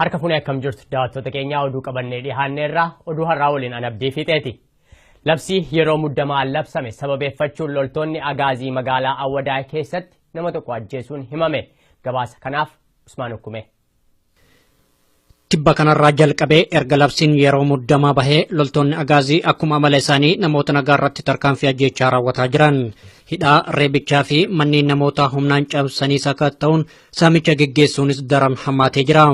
Harka fuunee akkam jirtu daawwattoota keenyaa oduu qabannee dhiyaanneerra oduu har'aa waliin an abdii fiixeeti. Labsii yeroo muddamaa labsame sababeeffachuun loltoonni agaazii magaalaa Awwadaay keessatti nama tokko ajjeesuun himame. Gabaasa kanaaf Usmaan Ukkumee. Tibba kanarraa jalqabee erga labsiin yeroo muddamaa bahee loltoonni agaazii akkuma amala isaanii namoota nagaa irratti tarkaanfii ajjeechaa raawwataa jiran. Hidhaa, reebichaa fi manneen namootaa humnaan cabsanii sakatta'uun saamicha geggeessuunis daran hammaatee jira.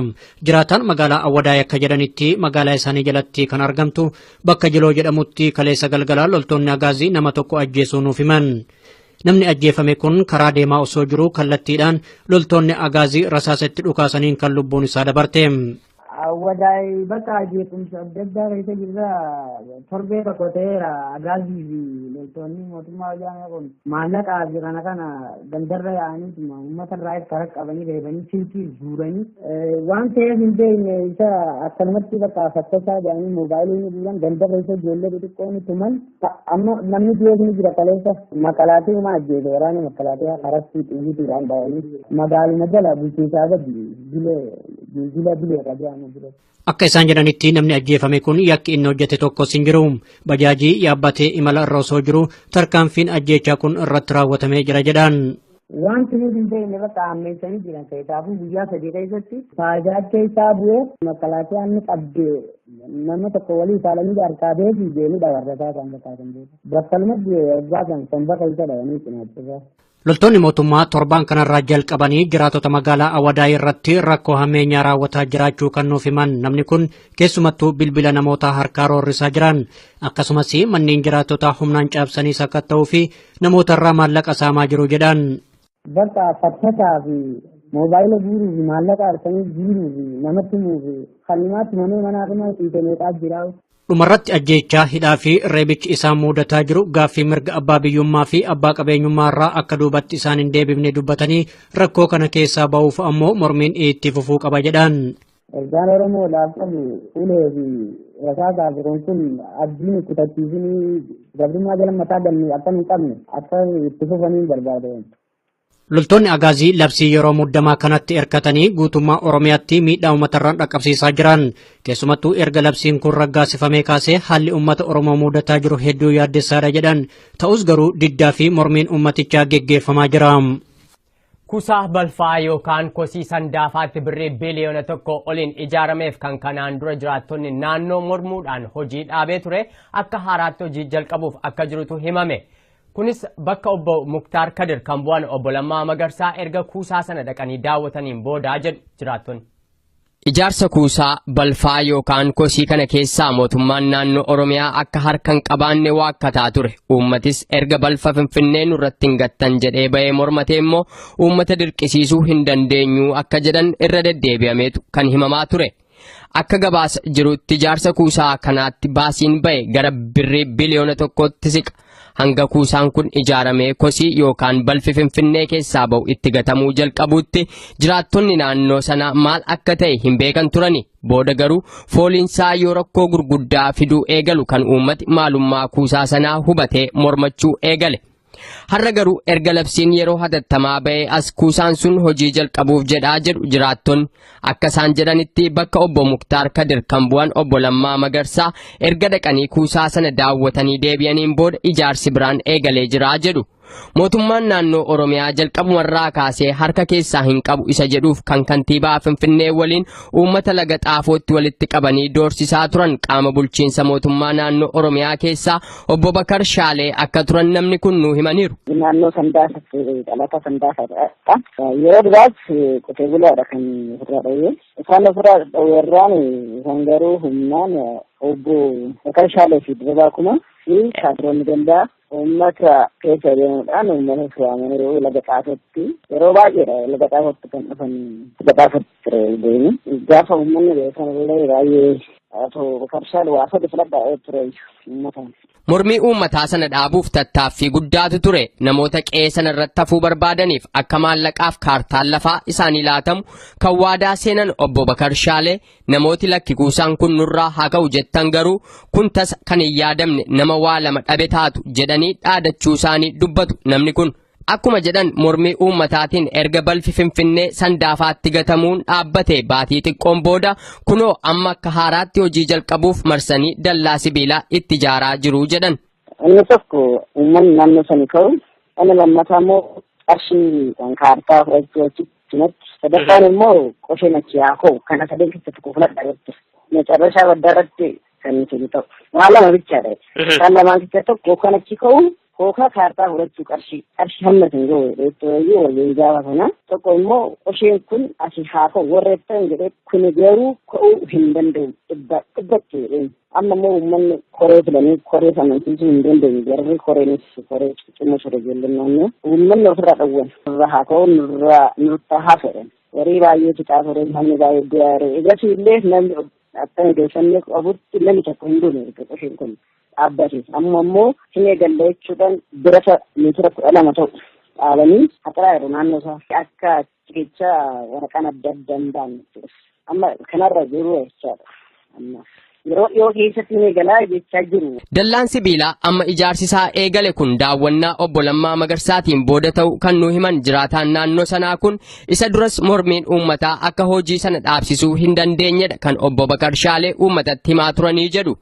Jiraataan magaalaa Awwadaay akka jedhanitti magaalaa isaanii jalatti kan argamtu bakka Jiloo jedhamutti kaleessa galgalaa loltoonni agaazii nama tokko ajjeesuu nuuf himan. Namni ajjeefame kun karaa deemaa osoo jiruu kallattiidhaan loltoonni agaazii rasaasa itti dhukaasaniin kan lubbuun isaa dabarte. Wadaay bakka jeequmsa adda addaa keessa jirra torbee tokko ta'eera agaazii fi loltoonni mootummaa wayyaanee kun maallaqaa fi kana kana gandarra yaa'aniituma uummata irraa itti harka qabanii reebanii silkii guuranii waan ta'eef hin beekne isa akkanumatti bakka fakkachaa jedhanii moobaayilii ni guuran gandarra isa ijoollee xixiqqoo ni tuman Amma namni dhiyees ni jira kaleessa makalaatii uma ajjeese waraana makalaatii harastii xiyyiitiidhaan dhawanii magaaluma jala bulchiinsaa gadi bilee jila bilee qabee amma bilee. Akka isaan jedhanitti namni ajjeefame kun yakki inni hojjete tokkos hin jiru. Bajaajii yaabbatee imala irra osoo jiru tarkaanfiin ajjeechaa kun irratti raawwatamee jira jedhan. Wanti nuti hin ta'in irratti hammeessanii jiran keessaafuu guyyaa sadii keessatti faayidaa keessaa bu'ee makalaakiyaan ni qabde nama tokko walii saalanii harkaa beekii deemuu dhabarrataa kan fakkaatan beeku. Battalumatti waggaa kan somba keessa dhayanii cinaachisaa. Loltoonni mootummaa torbaan kanarraa jalqabanii jiraatota magaalaa Awadaay irratti rakkoo hammeenyaa raawwataa jiraachuu kan nuuf himan namni kun keessumattuu bilbila namootaa harkaa roorrisaa jiran akkasumas manneen jiraatota humnaan caabsanii sakatta'uu fi Namoota irraa maallaqa saamaa jiru jedhaan. Bakka fattasaa fi moobaayila guuruu fi maallaqa halkanii jiiruu fi nama tumuu fi kannimaatti manee manaa dhuma dhiite meeqaa jiraa. Dhumarratti ajjeechaa hidhaa fi reebichi isaan muudataa jiru gaaffii mirga abbaa biyyummaa fi abbaa qabeenyummaa irraa akka duubatti isaan hin deebifne dubbatanii rakkoo kana keessaa ba'uuf ammoo mormiin itti fufuu qaba jedhan. Ergaan Oromoodhaaf qabu ulee fi rasaasaa fi kun kun abdii nu kutachiisinii gabrummaa jala mataa galnee akka nu qabne akka itti fufanii barbaada. Loltoonni Agaazii labsii yeroo muddamaa kanatti erkatanii guutummaa Oromiyaatti miidhaa uummatarraan dhaqqabsiisaa jiran. Keessumattuu erga labsiin kun raggaasifamee kaasee haalli uummata Oromoo mudataa jiru hedduu yaaddessaadha jedhan. Ta'us garuu diddaa fi mormiin uummatichaa geggeeffamaa jira. Kusa balfaa yookaan kosii Sandaafaatti birrii biliyoona tokko oliin ijaarameef kan kanaan dura jiraattonni naannoo mormuudhaan hojii dhaabee ture akka haaraatti hojii jalqabuuf akka jirutu himame. Kunis bakka obbo Muktaar Kadir kan bu'an obbo Lammaa Magarsaa erga kuusaa sana dhaqanii daawwataniin boodaa jedhu jiraattonni. Ijaarsa kuusaa balfaa yookaan kosii kana keessaa mootummaan naannoo Oromiyaa akka harka hin qabaanne waakkataa ture. Uummatis erga balfa Finfinnee nurratti hin gattan jedhee bahee mormatee immoo uummata dirqisiisuu hin dandeenyu akka jedhan irra deddeebi'ameetu kan himamaa ture. Akka gabaasa jirutti ijaarsa kuusaa kanaatti baasiin bahe gara birrii biliyoona tokkootti siqa. Hanga kuusaan kun ijaaramee kosii yookaan balfi Finfinnee keessaa ba'u itti gatamuu jalqabuutti jiraattonni naannoo sanaa maal akka ta'e hin beekan turani. Booda garuu fooliinsaa yoo rakkoo gurguddaa fiduu eegalu kan uummati maalummaa kuusaa sanaa hubatee mormachuu eegale. Har'a garuu erga labsiin yeroo hatattamaa ba'ee as kuusaan sun hojii jalqabuuf jedhaa jedhu jiraattonni. Akka isaan jedhanitti bakka obbo Muktaar Kadir kan bu'an obbo Lammaa Magarsaa erga dhaqanii kuusaa sana daawwatanii deebi'aniin booda ijaarsi biraan eegalee jira jedhu. Mootummaan naannoo Oromiyaa jalqabumarraa kaasee harka keessaa hin qabu isa jedhuuf kan kantiibaa Finfinnee waliin uummata laga xaafootti walitti qabanii doorsisaa turan qaama bulchiinsa mootummaa naannoo Oromiyaa keessaa Obbo Bakar Shaalee akka turan namni kun nu himaniiru. Naannoo Sandaasatti dhalataa Sandaasaadha. Yeroo duraas qotee bulaadha kan ofirraa dhowwee. Isaan ofirraa dhowweerraan isaan garuu humnaan obbo Bakar Shaalee fi Dirribaa Kumaa fi kaadiroonni gandaa uummata keessa deemuudhaan uummata suwaamaniiru laga xaafatti yeroo baay'eedha laga xaafatti kan dhufan laga xaafatti ture deemu gaafa uummanni beekan illee baay'ee Ato Makarshaan waa sadi filadhaa ee tureeyyu uummataan. Mormii uummataa sana dhaabuuf tattaaffii guddaatu ture. Namoota qe'ee sana irratti hafuu barbaadaniif akka maallaqaaf kaartaan lafaa isaanii laatamu kan waadaa seenan obbo Bakar Shaalee namooti lakki kuusaan kun nurraa haa ka'u jettan garuu kun tasa kan hin yaadamne nama waa lama dhabe taatu jedhanii dhaadachuu isaanii dubbatu namni kun. Akkuma jedhan mormii uummataatiin erga balfi Finfinnee Sandaafaatti gatamuun dhaabbate baatii xiqqoon booda kunoo amma akka haaraatti hojii jalqabuuf marsanii dallaa sibiilaa itti ijaaraa jiru jedhan. Inni tokko uummanni naannoo sanii ka'u inni lammataa immoo qarshii kan kaartaa fudhachuu achitti natti sadaffaan immoo qosheen achi haa ka'u kana sadeen keessatti kufladha jetti. Meecarrashaa baddaa irratti kan inni kennu ta'u. Waan lama bichaadha. Isaan lamaan keessaa tokko hookaan achi ka'u hookaa kaartaa fudhachuu qarshii qarshii hamma isin ga'u jechuunayyuu waliin gaafa sana tokko immoo qosheen kun asii haa ka'u warreettan jedhee kun garuu ka'uu hin danda'u dhibba dhibbatti jedheen amma immoo uummanni koree filanii koree amansiisuu hin dandeenye garri koreenis koree ciccimoo sore ijoolleen naannoo uummanni ofirraa dhowwan nurra haa ka'u nurra nurta haa fedhan warii baay'ee fixaa ture namni baay'ee du'aa ture egasii illee namni Akka odeeffannoo qabutti namni tokko hin duune erga qoshiin kun dhaabbate. Amma immoo hin eegalle jechuudhaan birata meetira kudha lama ta'u dhaabanii haxaraa jiru naannoo isaa. Akka cikicha waraqaan adda adda hin baane jechuudha. Amma kanarra jiru jechaadha. Amma yeroo dhiyoo keessatti hin eegalaa jechaa jiru. Dallaan sibiilaa amma ijaarsi isaa eegale kun daawwannaa obbo Lammaa Magarsaatiin booda ta'u kan nu himan jiraataan naannoo sanaa kun Isa duras mormiin uummataa akka hojii sana dhaabsisuu hin dandeenyedha kan obbo Bakar Shaalee uummatatti himaa turanii jedhu.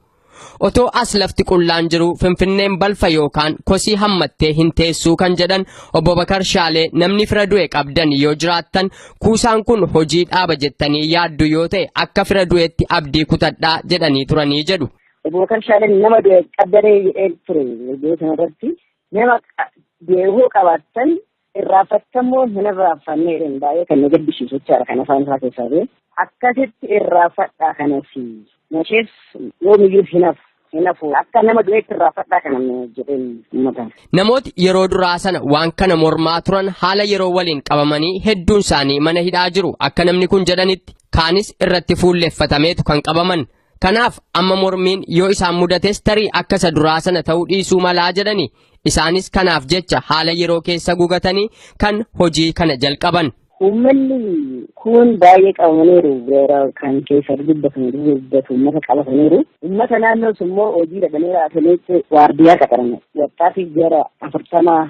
Otoo as lafti qullaan jiru Finfinneen balfa yookaan kosii hammattee hin teessuu kan jedhan obbo Bakar Shaalee namni fira du'e qabdan yoo jiraattan kuusaan kun hojii dhaaba jettanii yaaddu yoo ta'e akka fira du'etti abdii kutadhaa jedhanii turanii jedhu. Obbo Bakar Shaaleen nama du'e qabdanee jedhee ture yeroo sanarratti nama du'e hoo qabaattan Irraaffattamuun hin irraaffanne jedheen baay'ee kan na gaddisiisu jechaadha kan afaan isaa keessaa ba'e. Akkasitti irraafadhaa kanas nashees yoomiyyuu hin hafu. Hin hafu akka nama du'eetti irraafadhaa kana jedheen uummata. Namooti yeroo duraa sana waan kana mormaa turan haala yeroo waliin qabamanii hedduun isaanii mana hidhaa jiru akka namni kun jedhanitti kaanis irratti fuulleffatameetu kan qabaman Kanaaf amma mormiin yoo isaan mudates tarii akka isa duraa sana ta'uu dhiisuu malaa jedhani. Isaanis kanaaf jecha haala yeroo keessa gugatanii kan hojii kana jalqaban. Uummanni kun baay'ee qabamaniiru beera kan keessa dubbatan dubbatu uummata qabataniiru. Uummata naannoo sun immoo hojii dhabanii raataniitti waardiyaa qaxaran wattaatiif gara afurtamaa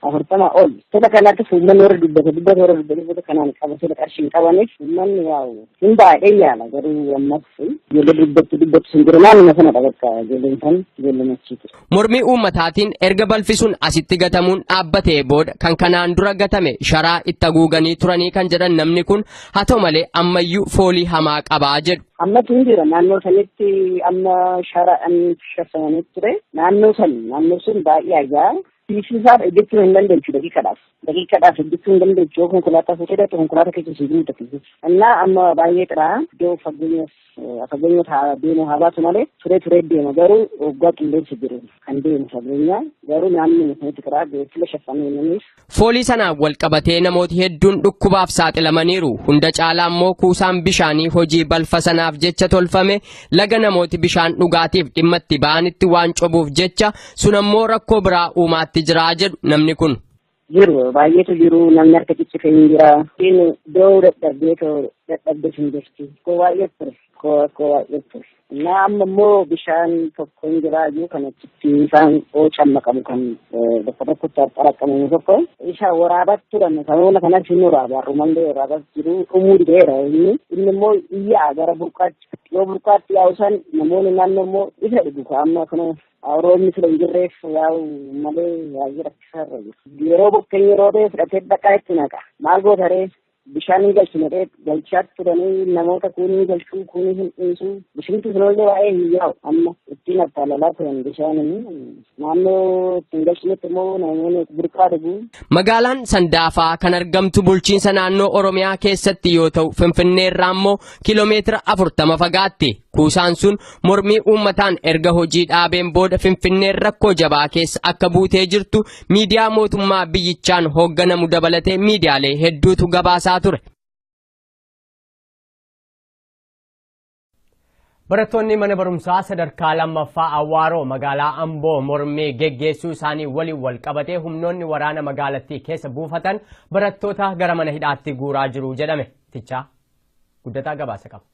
afurtamaa ol. Sota kanattis uummanni warra dubbata dubbata warra dubbata dubbata kanaan qabatee qarshii hin qabaniif uummanni yaa'u Hin baay'ee yaala garuu ammas ijoollee dubbatti dubbatti sun jiru naannuma sana bakka ijoolleen san ijoollee machiitu. Mormii uummataatiin erga balfi sun asitti gatamuun dhaabbatee booda kan kanaan dura gatame sharaa itti haguuganii turanii kan jedhan namni kun haa ta'u malee ammayyuu foolii hamaa qabaa jedhu. Ammas hin jira naannoo sanitti amma sharaan shafamanii ture naannoo san naannoo sun baay'ee ajaa fiisisaaf eeggachuu hin dandeenyu daqiiqadhaaf. daqiiqaadhaaf hojjechuu hin dandeechu yoo konkolaataa fuutee dhaqxe konkolaataa keessa siif muudatu innaa amma baay'ee xiraa iddoo fageenyas fageenyas haa deemu haa baatu malee turee turee deema garuu waggaa qilleensi jiru kan deemu fageenya garuu naannoo mukanitti xiraa beeksila shaffamee namiif. Foolii sanaan wal qabatee namooti hedduun dhukkubaaf saaxilamaniiru hunda caalaa immoo kuusaan bishaanii hojii balfa sanaaf jecha tolfame laga namooti bishaan dhugaatiif dhimma itti ba'anitti waan cobuuf jecha Sun ammoo rakkoo biraa uumaatti jiraa jedhu namni kun. jiru baay'eetu jiru namni harka ciccifee hin jira inni doo dadhabdee too dadhabdee hin jirti koo baay'ee ture koo koo baay'ee ture na amma immoo bishaan tokko hin jira iyyuu kan achitti isaan oocan maqamu kan bakka tokkotti xaraqamu tokko isa waraabat turan sababuma kanas hin waraaba rumallee waraabat jiru dhumuu dideera inni inni immoo iyyaa gara burqaatti yoo burqaatti yaa'u san namoonni naannoo immoo isa dhugu amma kana Roobni sila hin jirreef yaa'u malee baay'ee rakkisaa irra jiru. Yeroo bokkeenyi roobee fudhatee dhaqaa itti naqa. Maal goota ree? Bishaan hin galchu jedhee galchaa turanii namoota kuun hin galchu kuun hin dhiisu. Bishinti sunillee waa'ee hin yaa'u amma ittiin attaalalaa turan bishaan naannoo ittiin galchinetti immoo namoonni burqaa dhugu. Magaalaan Sandaafaa kan argamtu bulchiinsa naannoo Oromiyaa keessatti yoo ta'u Finfinnee irraa immoo kiiloomeetira afurtama fagaatti. Kuusaan sun Mormii uummataan erga hojii dhaabeen booda Finfinneen rakkoo jabaa keessa akka buutee jirtu miidiyaa mootummaa biyyichaan hoogganamu dabalatee miidiyaalee hedduutu gabaasaa ture. Barattoonni mana barumsaa sadarkaa lammaffaa Awwaaroo magaalaa Amboo mormii geggeessuu isaanii waliin wal qabatee humnoonni waraana magaalattii keessa buufatan barattoota gara mana hidhaatti guuraa jiru jedhame. Tichaa guddataa gabaasa qaba.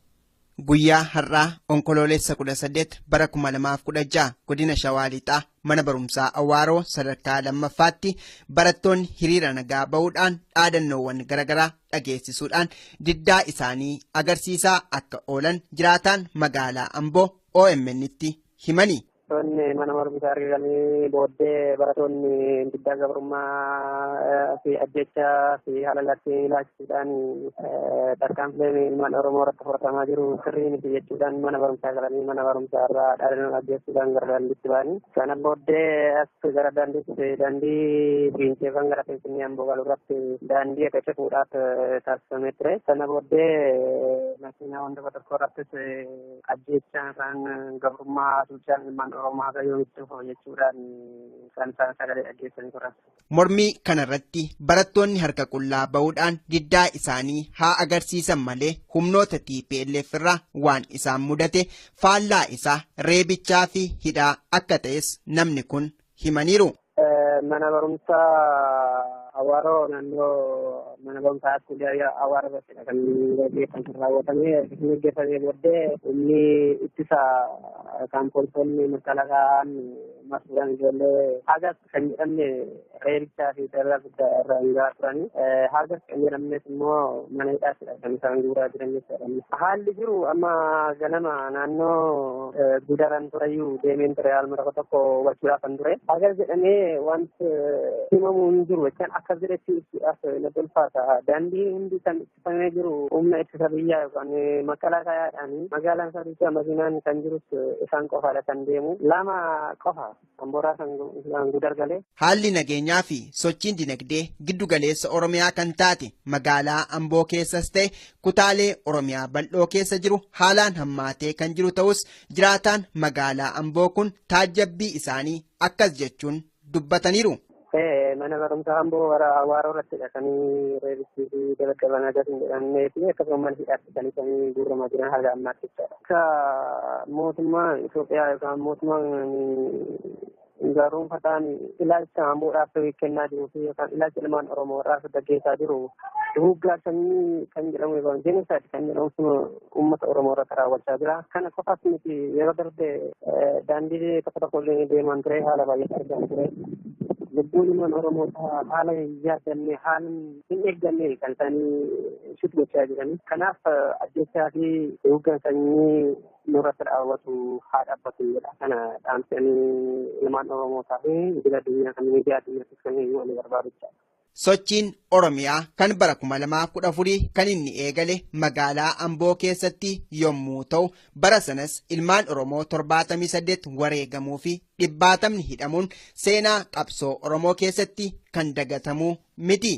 Guyyaa har'aa Onkoloolessa 18 bara 2016 godina Shawaa Lixaa mana barumsaa Awaaroo sadarkaa lammaffaatti barattoonni hiriira nagaa ba'uudhaan dhaadannoowwan garaagaraa dhageessisuudhaan diddaa isaanii agarsiisaa akka oolan jiraataan magaalaa Amboo OMN'tti himani. Toonni mana barumsaa argamanii booddee baratoonni diddaa gabrummaa fi ajjechaa fi halalatti ilaachuudhaan tarkaanfileen ilmaan Oromoo irratti fudhatamaa jiru sirrii miti jechuudhaan mana barumsaa galanii mana barumsaa irraa dhaadannoo ajjeessuudhaan gara daandiitti ba'anii sana booddee as gara daandiitti daandii fiinceefan gara Finfinnee Amboo galu irratti daandii akka cufuudhaaf taasifamee ture sana booddee makiinaa wanta tokko irrattis Ajjeechaan isaan gabrummaa hacuuccaan ilmaan Oromoo haga yoomitti foo jechuudhaan kan isaan sagalee dhaggeessanii turan. Mormii kanarratti barattoonni harka qullaa ba'uudhaan diddaa isaanii haa agarsiisan malee humnoota TPLF irraa waan isaan mudate faallaa isaa reebichaa fi hidhaa akka ta'es namni kun himaniiru. Mana barumsaa Awaaroo naannoo mana barumsaa Askuulee Awaaroo irrattidha kan gaggeessan kan raawwatame. Kan gaggeeffamee booddee humni ittisa kan poolisoonni makalakaa'aan marsuudhaan ijoollee hagas kan jedhamne reebichaa fi dararaa irraa hundaa turanii haga fixannee lammees immoo mana hidhaatti dhabdan isaan guuraa jiran jechuudha. Haalli jiru amma ganama naannoo gudaran tureyyuu deemeen ture haaluma tokko tokko wachuudhaaf kan ture. Hagas jedhamee wanti himamu hin jiru jechaan akkas jedhetti ibsuudhaaf na tolfaata. Daandii hundi kan ittifamee jiru humna ittisa biyyaa yookaan maqalaa kaayaadhaan magaalaan isaa makiinaan kan jirus isaan qofaadha kan deemu. Lama qofa Tambooraa Sangaan Gudar galee. Haalli nageenyaa fi sochiin dinagdee giddu galeessa Oromiyaa kan taate magaalaa Amboo keessas ta'e kutaalee Oromiyaa bal'oo keessa jiru haalaan hammaatee kan jiru ta'us jiraataan magaalaa Amboo kun taajjabbii isaanii akkas jechuun dubbataniiru. Mana barumsaa amboo warra hawaaroo irratti dhaqanii reebichii fi dabaddaban adas hin jedhamnee fi akkasuma mana hidhaatti kan isaan guurramaa jiran haga ammaatti jechaadha. Akka mootummaa Itoophiyaa yookaan mootummaan gaarumfataan ilaalcha amboodhaaf kennaa jiruu fi yookaan ilaalcha ilmaan Oromoo irraa gaggeessaa jiru duguuggaa sanyii kan jedhamu yookaan jenisaati kan jedhamu uummata Oromoo irratti raawwachaa jira. Kana qofaas miti yeroo darbe daandii tokko tokko illee deemaan ture haala baay'ee argamu ture. Lubbuun ilmaan Oromoo haala hin yaadamne haala hin eeggamne kan isaanii shit gochaa jiran. Kanaaf ajjechaa fi duguuggaa sanyii nurratti raawwatu haa dhaabbatu jedha. Kana dhaamsanii ilmaan Oromoo fi idil addunyaa kan miidiyaa addunyaattis kan himu ani barbaadu jechaadha. Sochiin Oromiyaa kan bara 2014 kan inni eegale magaalaa Amboo keessatti yommuu ta'u bara sanas ilmaan Oromoo 78 wareegamuu fi dhibbaatamni hidhamuun seenaa qabsoo Oromoo keessatti kan dagatamuu miti.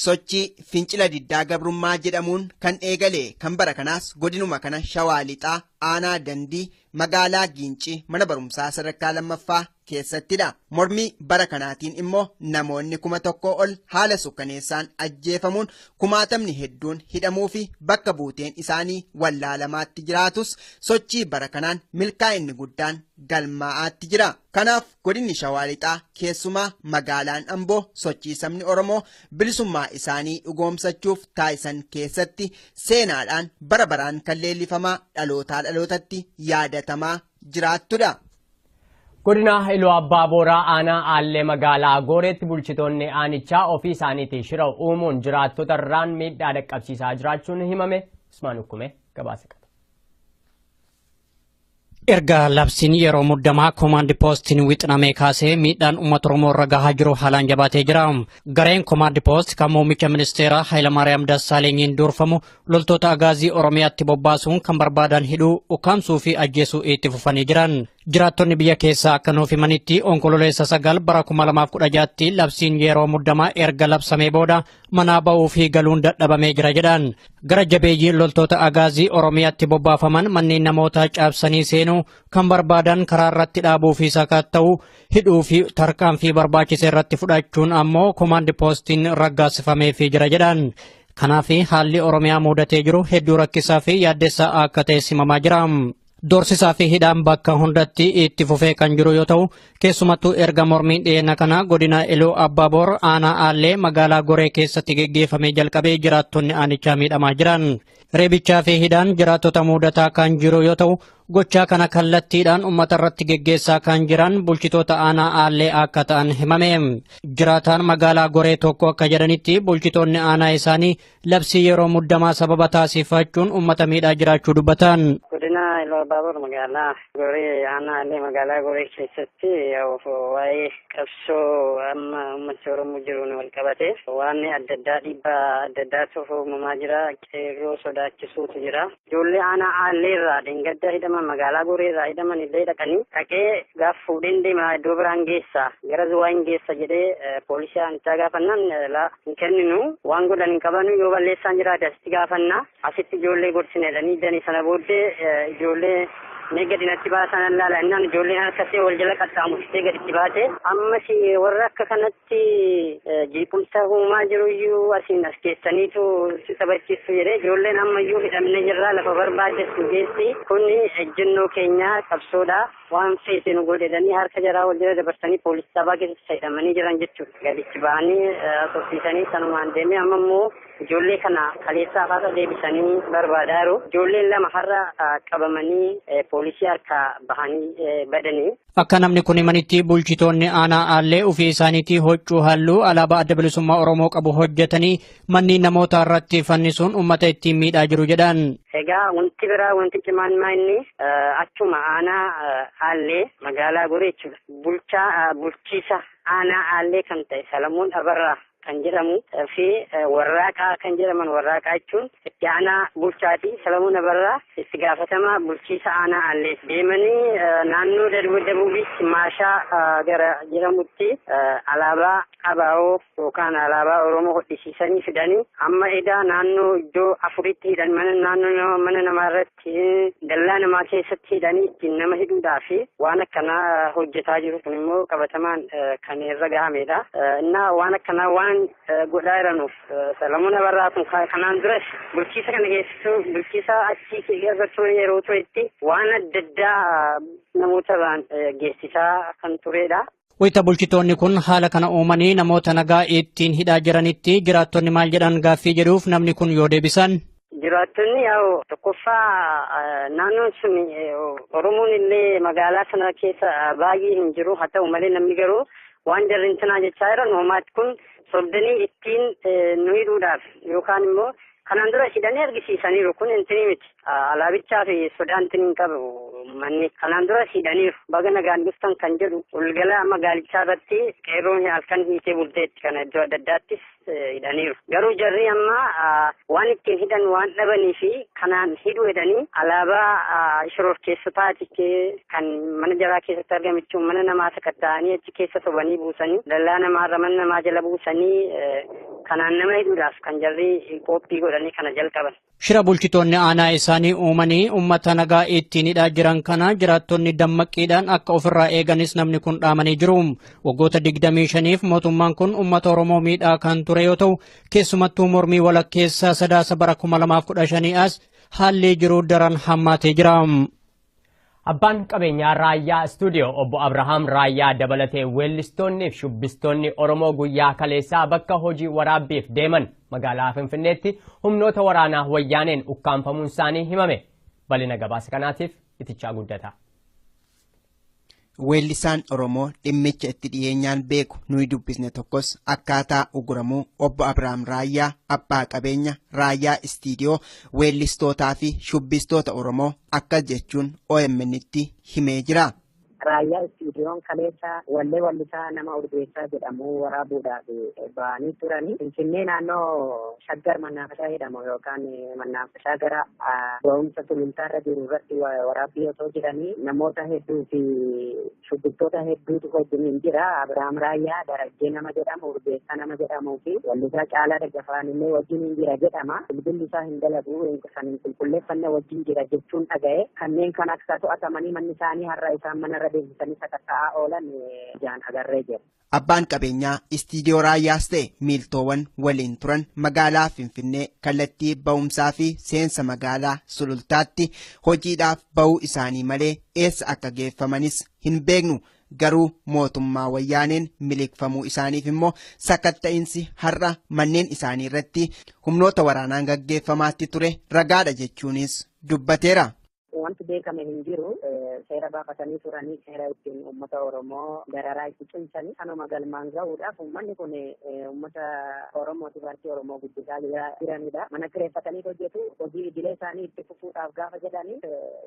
Sochii fincila diddaa gabrummaa jedhamuun kan eegale kan bara kanaas godinuma kana shawaa lixaa aanaa dandii magaalaa giincii mana barumsaa sadarkaa lammaffaa keessattidha. Mormii bara kanaatiin immoo namoonni kuma tokkoo ol haala sukkaneessaan ajjeefamuun kumaatamni hedduun hidhamuu fi bakka buuteen isaanii wallaalamaatti jiraatus sochii bara kanaan milkaa'inni guddaan galmaa'aatti jira. Kanaaf godinni Shawaa Lixaa keessumaa magaalaan Amboo sochii sabni Oromoo bilisummaa isaanii dhugoomsachuuf taasisan keessatti seenaadhaan bara baraan kan leellifamaa dhalootaa dhalootatti yaadatamaa jiraattudha. Godina Iluu Abbaa Booraa aanaa Aallee magaalaa Gooreetti bulchitoonni aanichaa ofii isaaniitii shira uumuun jiraattota irraan miidhaa dhaqqabsiisaa jiraachuun himame Usmaan Ukkumee gabaasa qaba. Erga labsiin yeroo muddamaa koomaandi poostiin wixinamee kaasee miidhaan uummata Oromoo irra gahaa jiru haalaan jabaatee jira. Gareen koomaandi poost kan muummicha ministeeraa Hayilamaariyaam Dassaalenyiin durfamu Loltoota agaazii Oromiyaatti bobbaasuun kan barbaadan hidhuu, ukkaamsuu fi ajjeesuu itti fufanii jiran. Jiraattonni biyya keessaa akka nuuf himanitti onkololeessa sagal bara 2016tti labsiin yeroo muddamaa erga labsamee booda manaa ba'uu fi galuun dadhabamee jira jedhan. Gara jabeeyyiin loltoota agaazii Oromiyaatti bobbaafaman manneen namootaa caabsanii seenuu, kan barbaadan karaa irratti dhaabuu fi sakatta'uu, hidhuu fi tarkaanfii barbaachise irratti fudhachuun ammoo komaandi poostiin raggaasifameefii jira jedhan. Kanaaf haalli Oromiyaa muudatee jiru hedduu rakkisaa fi yaaddessaa akka ta'e simamaa jira. Doorsisaa fi hidhaan bakka hundatti itti fufee kan jiru yoo ta'u, keessumattuu erga mormiin dhiyeenya kana godina Iluu Abbaaboor aanaa Aallee magaalaa Goree keessatti geggeeffamee jalqabee jiraattonni aanichaa miidhamaa jiran. Reebichaa fi hidhaan jiraattota muudataa kan jiru yoo ta'u, Gochaa kana kallattiidhaan uummata irratti geggeessaa kan jiran bulchitoota aanaa Aallee akka ta'an himame. Jiraataan magaalaa Goree tokko akka jedhanitti bulchitoonni aanaa isaanii labsii yeroo muddamaa sababa taasifachuun uummata miidhaa jiraachuu dubbatan. Godina Iluu Abbaaboor magaalaa Goree aanaa Aallee magaalaa Goree keessatti waa'ee qabsoo amma uummata Oromoo jiruun wal qabatee waan adda addaa dhiibbaa adda addaatu uumamaa jira. Qeerroo sodaachisuutu jira. Ijoollee aanaa Aallee irraa dheengadda hidhaman magaalaa Goree irraa hidhaman illee dhaqanii dhaqee gaaf fuudheen deema iddoo biraan geessa gara Zuwaa hin geessa jedhee poolisii aanichaa gaafannaan laa hin kenninu waan godhan hin qabanu yoo balleessaan jiraate asitti gaafanna asitti ijoollee gorsina jedhanii danii sana booddee ijoollee mee gadi natti baasan allaala innaan ijoolleen harkasee wal jala qaxxaamurtee gaditti baate ammas warra akka kanatti keessatti jeequmsa uumaa jiruyyuu asiin as keessaniitu si taphachiistu jedhee ijoolleen ammayyuu hidhamne jirraa lafa barbaaddetu geessi kun ejjennoo keenyaa qabsoodha waan feete nu godhedhanii harka jaraa wal jala dabarsanii poolisii sabaa keessatti hidhamanii jiran jechuudha gadichi ba'anii tursiisanii sanumaan deemee amma immoo ijoollee kana kaleessaa haasa deebisanii barbaadaa jiru ijoolleen lama har'a qabamanii poolisii harka bahanii badanii Akka namni kun himanitti bulchitoonni aanaa aallee ofii isaaniitii hoccuu halluu alaabaa adda bilisummaa Oromoo qabu hojjetanii manneen namoota irratti fannisuun uummata ittiin miidhaa jiru jedhan. Egaa wanti biraa wanti cimaan maa inni achuma aanaa aallee magaalaa goree jechuudha. Bulchaa bulchiisa aanaa aallee kan ta'e Salamoon Abarraa kan jedhamu fi Warraaqaa kan jedhaman Warraaqaa jechuun itti aanaa bulchaati. Salamuun Abarraa itti gaafatamaa bulchiisa aanaa Aallee deemanii naannoo Dabuubiitti Maashaa gara jedhamutti alaabaa abaa'oo yookaan alaabaa Oromoo hodhisiisanii fidanii amma edaa naannoo iddoo afuritti hidhan mana naannoo mana namaa irratti dallaa namaa keessatti hidhanii ittiin nama hidhuudhaa fi waan akkanaa hojjetaa jiru kun immoo qabatamaan kan irra gahamedha. Innaa waan akkanaa waan godhaa jiranuuf Salamuun Abarraa kun kanaan duras bulchiisa kana keessattuu bulchiisa achi irra ture yeroo turetti waan adda addaa namoota irraan geessisaa kan turedha. Wayita bulchitoonni kun haala kana uumanii namoota nagaa ittiin hidhaa jiranitti jiraattonni maal jedhan gaaffii jedhuuf namni kun yoo deebisan. Jiraattonni yaa'u tokkoffaa naannoon sun Oromoon illee magaalaa sana keessa baay'ee hin jiru haa ta'u malee namni garuu waan jarri intinaa jechaa jiran uumaatti kun sobdanii ittiin nu hidhuudhaaf yookaan immoo Kanaan dura hidhanii argisiisaniiru kun intinii miti alaabichaa fi sodaa intiniin qabu manni kanaan dura hidhaniiru baga nagaan dhuftan kan jedhu walgala magaalichaa irratti qeerroon halkan hiitee bulteetti kana iddoo adda addaattis hidhaniiru garuu jarri amma waan ittiin hidhan waan dhabanii fi kanaan hidhu jedhanii alaabaa shororkeessotaati kan mana jaraa keessatti argamichu mana namaa sakatta'anii achi keessa sobanii buusanii dallaa namaarra mana namaa jala buusanii Kanaan nama hidhuudhaaf kan jarri qoophii godhanii kana jalqaban. Shira bulchitoonni aanaa isaanii uumanii uummata nagaa ittiin hidhaa jiran kana jiraattonni dammaqqiidhaan akka ofirraa eeganis namni kun dhaamanii jiru. Waggoota 25f mootummaan kun uummata Oromoo miidhaa kan ture yoo ta'u, keessumattuu mormii walakkeessaa sadaasa bara 2015 as haalli jiru daran hammaatee jira. Abbaan qabeenyaa Raayyaa Istuudiyoo obbo Abrahaam Raayyaa dabalatee weellistoonni fi shubbistoonni Oromoo guyyaa kaleessaa bakka hojii waraabbiif deeman magaalaa Finfinneetti humnoota waraanaa wayyaaneen ukkaamfamuun isaanii himame. Bal'ina gabaasa kanaatiif itichaa guddataa. Weellisaan Oromoo dhimmicha itti dhiyeenyaan beeku nuyi dubbisne tokkos akkaataa uguramuu obbo Abiraam Raayyaa abbaa qabeenya Raayyaa Istiidiyoo weellistootaa fi shubbistoota Oromoo akkas jechuun OMN'tti himee jira. Raayyaa Istiidiyoon kaleessa wallee wallisaa nama Urgeessaa jedhamu waraabuudhaaf ba'anii turanii Finfinnee naannoo Shaggar Mannaafashaa jedhamu yookaan Mannaaf isaa gara ga'umsa sulultaarra jiru irratti waraabbii osoo jiranii namoota hedduu fi shubbiftoota hedduutu wajjiniin jira. Abiraam Raayyaa, Darajjee nama jedhamu, Urgeessaa nama jedhamuu fi Wallisaa Caalaa Daggafaan illee wajjiniin jira jedhama. Bilbilli isaa hin dalagu, kan hin qulqulleeffanne wajjin jira jechuun dhaga'e. Kanneen kan akka to'atamanii manni isaanii har'a isaan manarra deebisanii sakatta'aa oolan ijaan agarree jira. Abbaan qabeenyaa istiidiyoo raayyaas ta'e miiltoowan waliin turan magaalaa Finfinnee kallattii ba'umsaa fi seensa magaalaa Sulultaatti hojiidhaaf ba'uu isaanii malee eessa akka geeffamanis hin beeknu. Garuu mootummaa wayyaaneen miliqfamuu isaaniif immoo sakatta'insi har'a manneen isaanii irratti humnoota waraanaan gaggeeffamaatti ture ragaadha jechuunis dubbateera. Wanti beekame hin jiru seera baafatanii turanii seera ittiin uummata Oromoo dararaa itti cimsanii kanuma galmaan gahuudhaaf uummanni kun uummata Oromootiif harki Oromoo guddisaa jiranidha. Mana kireeffatanii hojjetu hojii idilee isaanii itti fufuudhaaf gaafa jedhanii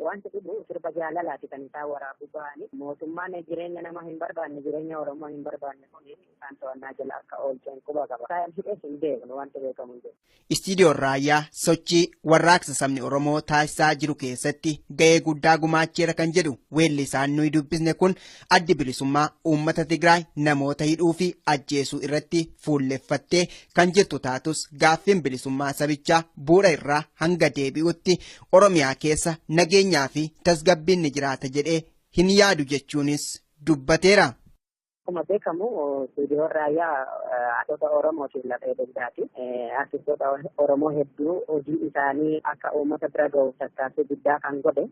wanti dhibu sirba jaalalaati kan isaan waraabuu ba'anii mootummaan jireenya nama hin barbaanne jireenya Oromoo hin barbaanne kun isaan to'annaa jala akka oolcheen quba qaba. Isaan hidhees hin beeknu wanti beekamu hin jiru. Istiidiyoon Raayyaa sochii warraaqsa sabni Oromoo taasisaa jiru keessatti ga'ee guddaa gumaacheera kan jedhu weellisaan nuyi dubbisne kun addi bilisummaa uummata Tigraay namoota hidhuu fi ajjeesuu irratti fuulleffattee kan jirtu taatus gaaffiin bilisummaa sabichaa bu'uura irraa hanga deebi'utti Oromiyaa keessa nageenyaa fi tasgabbiin ni jiraata jedhee hin yaadu jechuunis dubbateera. Akkuma beekamu Suudiyoon Raayyaa haadhota Oromootiif lafee dugdaati. Artistoota Oromoo hedduu hojii isaanii akka uummata bira gahuuf tattaaffii guddaa kan godhe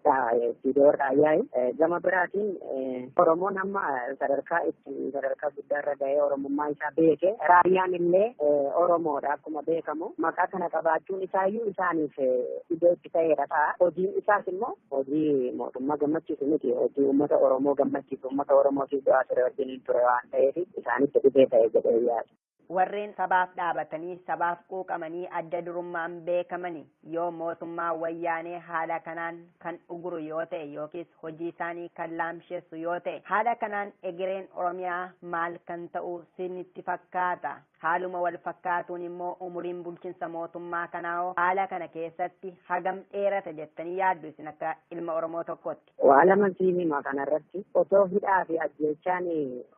Suudiyoon Raayyaa. Gama biraatiin Oromoon amma sadarkaa itti sadarkaa guddaa irra gahee Oromummaa isaa beeke. Raayyaan illee Oromoodha akkuma beekamu. Maqaa kana qabaachuun isaayyuu isaaniif iddoo itti ta'eera ta'a. Hojiin isaas immoo hojii mootummaa gammachiisu miti. Hojii uummata Oromoo gammachiisu uummata Oromootiif du'aa ture wajjiniin ture waan ta'eef isaanitti dhibee ta'e jedhee yaada. Warreen sabaaf dhaabatanii, sabaaf quuqamanii adda durummaan beekamani yoo mootummaa wayyaanee haala kanaan kan uguru yoo ta'e yookiis hojii isaanii kan laamshessu yoo ta'e haala kanaan egereen Oromiyaa maal kan ta'u sinitti fakkaata? Haaluma wal fakkaatuun immoo umuriin bulchinsa mootummaa kanaahoo haala kana keessatti hagam dheerata jettanii yaaddu isin akka ilma Oromoo tokkootti? Waa laman siin hima kana irratti. Otoo hidhaa fi ajjeechaan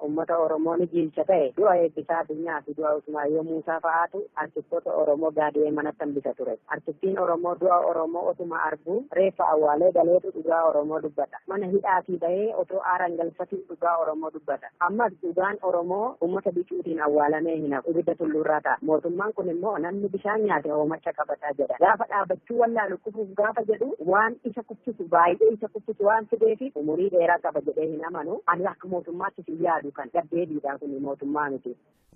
uummata Oromoo ni jiilcha ta'e du'a Eebbisaa Addunyaa fi du'a Usmaayyoo Muusaa fa'aatu artistoota Oromoo gaadi'ee manatti hambisa ture. Artistiin Oromoo du'a Oromoo otuma arguu reeffa awwaalee galeetu dhugaa Oromoo dubbata. Mana hidhaatii bahee otoo aaran galfatuu dhugaa Oromoo dubbata. Ammas dhugaan Oromoo uummata bicuutiin awwaalamee hin hafu. Ibidda tulluurraa ta'a. Mootummaan kun immoo namni bishaan nyaate hoomacha qabata jedha. Gaafa dhaabbachuu wallaalu kufuuf gaafa jedhu waan isa kuffisu baay'ee isa kuffisu waan fideefi umurii dheeraa qaba jedhee hin amanu. Ani akka mootummaattis hin yaadu kan gaddeebiidha kun mootummaa miti.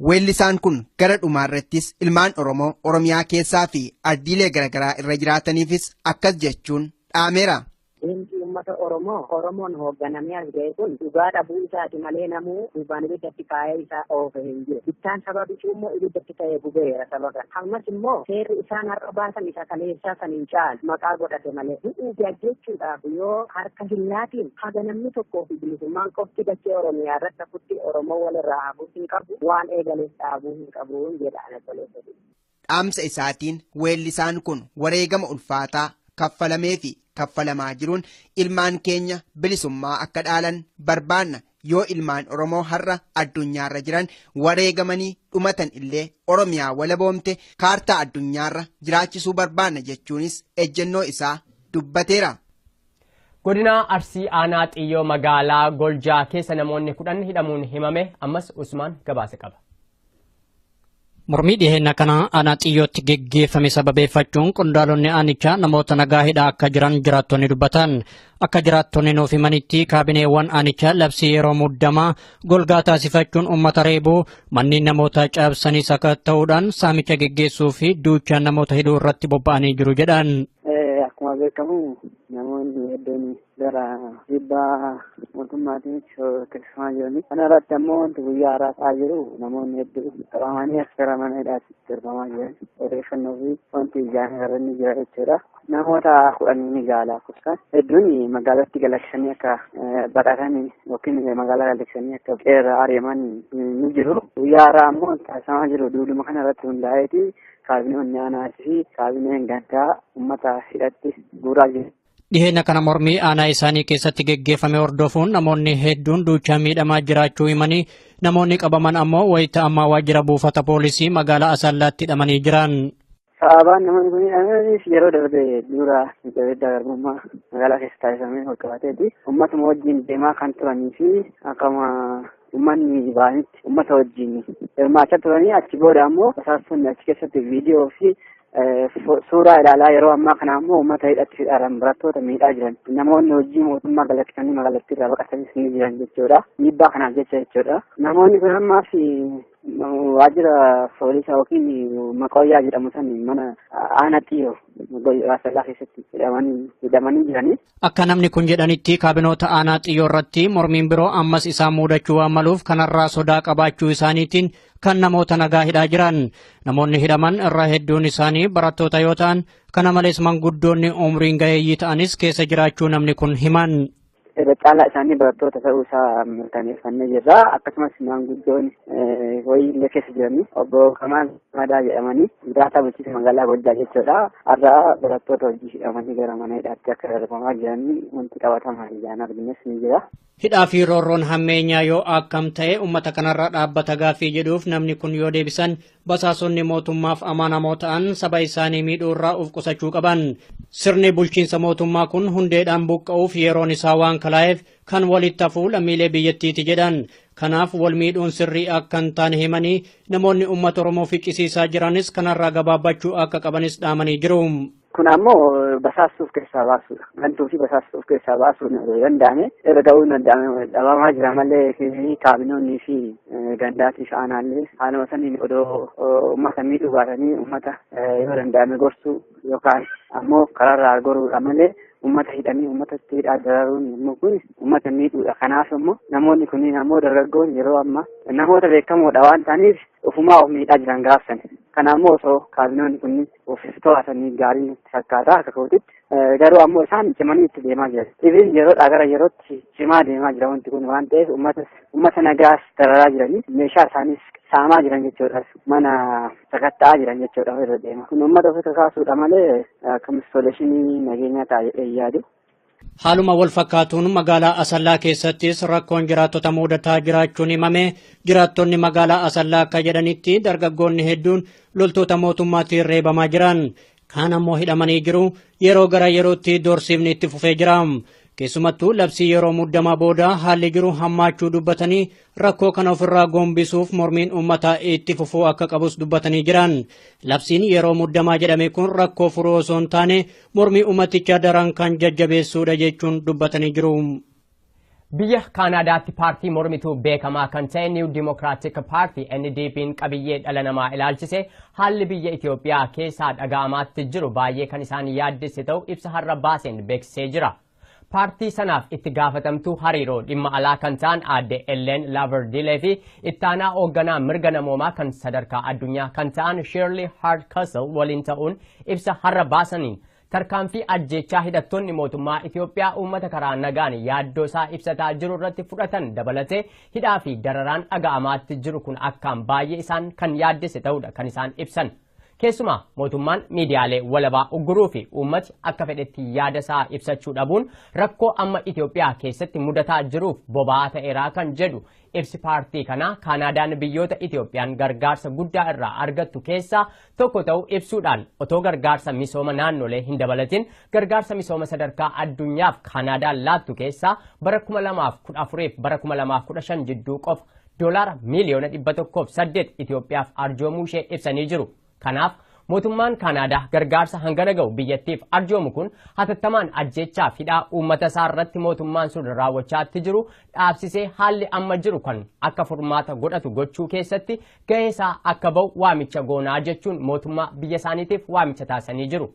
Weellisaan kun gara dhumaarrattis ilmaan Oromoo Oromiyaa keessaa fi ardiilee garaagaraa irra jiraataniifis akkas jechuun dhaameera. Diinqii uummata Oromoo Oromoon hoogganamee as ga'e kun dhugaa dhabuu isaati malee namuu gubbaan ibiddatti kaa'ee isa oofe hin jiru. Bittaan saba bicuu immoo ibiddatti ta'ee gubeera saba kana. Ammas immoo seerri isaan har'a baasan isa kaleessaa san hin caalu maqaa godhate malee. Du'uu fi ajjeechuudhaaf yoo harka hin laatiin haga namni tokkoo fi bilisummaan qofti dachee Oromiyaa irratti hafutti Oromoo walirraa hafuu hin qabu waan eegaleef dhaabuu hin qabu jedha ana tolee. Dhaamsa isaatiin weellisaan kun wareegama ulfaataa kaffalamee fi kaffalamaa jiruun ilmaan keenya bilisummaa akka dhaalan barbaanna yoo ilmaan Oromoo har'a addunyaarra jiran wareegamanii dhumatan illee Oromiyaa walaboomte kaartaa addunyaarra jiraachisuu barbaanna jechuunis ejjennoo isaa dubbateera. Godina Arsii Aanaa Xiyyoo magaalaa Goljaa keessa namoonni kudhan hidhamuun himame ammas Usmaan gabaasa qaba. Mormii dhiheenya kana aanaa xiyyootti geggeeffame sababeeffachuun qondaalonni aanichaa namoota nagaa hidhaa akka jiran jiraattonni dubbatan. Akka jiraattonni nuuf himanitti kaabineewwan aanichaa labsii yeroo muddamaa golgaa taasifachuun uummata reebuu manneen namoota cabsanii sakatta'uudhaan saamicha geggeessuu fi duuchaan namoota hidhuu irratti bobba'anii jiru jedhan. Akkuma beekamu namoonni hedduun gara dhiibbaa mootummaatiin shororkeeffamaa jiranii kana irratti ammoo wanti guyyaa har'aa ta'aa jiru namoonni hedduu qabamanii as gara mana hidhaatti darbamaa jiran odeeffannoo fi wanti ijaan irra ni jira jechuudha. Namoota kudhan ni gaala kutaan hedduun magaalatti galachanii akka baqatan yookiin magaalaa galachanii akka qeerra ari'aman ni jiru. Guyyaa har'aa ammoo taasifamaa jiru duuduma kana irratti hundaa'eeti kaabinee onnaanaa fi kaabineen gandaa uummata hidhatti guuraa jiru. Dhiheenya kana mormii aanaa isaanii keessatti geggeeffame hordofuun namoonni hedduun duuchaa miidhamaa jiraachuu himanii namoonni qabaman ammoo wayita ammaa waajjira buufata poolisii magaalaa Asallaatti hidhamanii jiran. Sababaan namoonni kun hidhamanis yeroo darbe dura miidhagina garbummaa magaalaa keessa taasifamee walqabateeti. Uummatuma wajjin deemaa kan turanii fi akkuma Uummanni baay'inatti uummata wajjin hirmaachaa turanii achi booda ammoo basaastonni achi keessatti viidiyoo fi suuraa ilaalaa yeroo ammaa kana ammoo uummata hidhatti hidhaaran barattoota miidhaa jiran namoonni hojii mootummaa galakkisanii magaalattii irraa baqatanis ni jiran jechuudha. Dhiibbaa kanaaf jecha jechuudha. Namoonni kun ammaaf Waajjira poolisa yookiin maqooyyaa jedhamu san mana aana xiyyoo Raasallaa keessatti hidhamanii hidhamanii jiranii. Akka namni kun jedhanitti kaabinoota aanaa xiyyoo irratti mormiin biroo ammas isaan muudachuu waan maluuf kanarraa sodaa qabaachuu isaaniitiin kan namoota nagaa hidhaa jiran. Namoonni hidhaman irra hedduun isaanii barattoota yoo ta'an kana malees manguddoonni umriin gaheeyyii ta'anis keessa jiraachuu namni kun himan. irra caalaa isaanii barattoota ta'uu isaa mirkaneeffannee jirra. Akkasumas maanguddoon wayii illee keessa jiranii obbo Kamaan Madaa jedhamanii jiraataa bulchiinsa magaalaa Gojjaa jechuudha. Har'a barattoota hojii hidhamanii gara mana hidhaatti akka darbamaa jiranii wanti qabatamaan ijaan argines ni jira. Hidhaa fi roorroon hammeenyaa yoo akkam ta'e uummata kanarra dhaabbata gaaffii jedhuuf namni kun yoo deebisan Basaasonni mootummaaf amanamoo ta'an saba isaanii miidhuu irraa of qusachuu qaban. Sirni bulchiinsa mootummaa kun hundeedhaan buqqa'uuf yeroon isaa waan kalaa'eef kan walitti hafuu lammiilee biyyattiiti jedhan. Kanaaf wal miidhuun sirrii akka hin taane himanii namoonni uummata Oromoo ficcisiisaa jiranis kanarraa gabaabbachuu akka qabanis dhaamanii jiru. Kun ammoo basaastuu of keessaa baasuudha. Gantuu fi basaastuu of keessaa baasuun danda'ame irra ga'uun danda'ame dhabamaa jira malee kaabinoonnii fi gandaatii fi aanaallee haaluma saniin odoo uummata miidhuu baatanii uummata yoo danda'ame gorsuu yookaan ammoo karaarraa goruudha malee uummata hidhanii uummata itti hidhaa dararuun immoo kun uummata miidhuudha. Kanaaf immoo namoonni kunniin ammoo dargaggoon yeroo ammaa namoota beekamoodha waan ta'aniif ofumaa of miidhaa jiran gaafsan. Kana ammoo osoo kaabinoonni kunniin of to'atanii gaarii natti fakkaata akka kootitti. Garuu ammoo isaan cimanii itti deemaa jiru. Ibin yeroodhaa gara yerootti cimaa deemaa jira wanti kun waan ta'eef uummatas uummata nagaas dararaa jiranii meeshaa isaaniis saamaa jiran jechuudha. Mana sakatta'aa jiran jechuudha irra deema. Kun uummata ofi kakaasuudha malee akka instooleeshinii nageenyaa taa'ee yaadu. Haaluma wal fakkaatuun magaalaa Asallaa keessattis rakkoon jiraattota muudataa jiraachuun himame jiraattonni magaalaa Asallaa akka jedhanitti dargaggoonni hedduun loltoota mootummaatiin reebamaa jiran kaan ammoo hidhamanii jiru yeroo gara yerootti doorsiifni itti fufee jira. Keessumattuu labsii yeroo muddamaa booda haalli jiru hammaachuu dubbatanii Rakkoo kana ofirraa gombisuuf mormiin uummataa itti fufuu akka qabus dubbatanii jiran. Labsiin yeroo muddamaa jedhame kun rakkoo furuu osoo hin taane mormii uummatichaa daran kan jajjabeessuudha jechuun dubbatanii jiru. Biyya Kaanaadaatti paartii mormituu beekamaa kan ta'e New Democratic Party NDP'n qabiyyee dhala namaa ilaalchise haalli biyya Itoophiyaa keessaa dhaga'amaatti jiru baay'ee kan isaan yaaddesse ta'u ibsa har'a baaseen beeksisee jira. Paartii sanaaf itti gaafatamtuu hariiroo dhimma alaa kan ta'an aadde Elleen Laavardiilee fi ittaanaa oogganaa mirga namoomaa kan sadarkaa addunyaa kan ta'an Shirley Hardcastle waliin ta'uun ibsa har'a baasaniin tarkaanfii ajjeechaa hidhattoonni mootummaa Itoophiyaa uummata karaa nagaan yaaddoo isaa ibsataa jiru irratti fudhatan dabalatee hidhaa fi dararaan dhaga'amaatti jiru kun akkaan baay'ee isaan kan yaaddesse ta'uudha kan isaan ibsan. Keessumaa mootummaan miidiyaalee walabaa ugguruu fi uummati akka fedhetti yaada isaa ibsachuu dhabuun rakkoo amma Itoophiyaa keessatti mudataa jiruuf boba'aa ta'eeraa kan jedhu ibsi paartii kanaa Kaanaadaan biyyoota Itoophiyaan gargaarsa guddaa irraa argattu keessaa tokko ta'uu ibsuudhaan otoo gargaarsa misooma naannolee hin dabalatin gargaarsa misooma sadarkaa addunyaaf Kaanaadaan laattu keessaa bara 2014 fi bara 2015 jidduu qofa doolaara miiliyoona 108 Itoophiyaaf arjoomuu ishee ibsanii jiru. Kanaaf mootummaan Kaanaadaa gargaarsa hangana ga'u biyyattiif arjoomu kun hatattamaan ajjeechaaf hidhaa uummata isaa irratti mootummaan sun raawwachaatti jiru dhaabsisee haalli amma jiru kan akka furmaata godhatu gochuu keessatti ga'ee isaa akka ba'u waamicha goonaa jechuun mootummaa biyya isaaniitiif waamicha taasisanii jiru.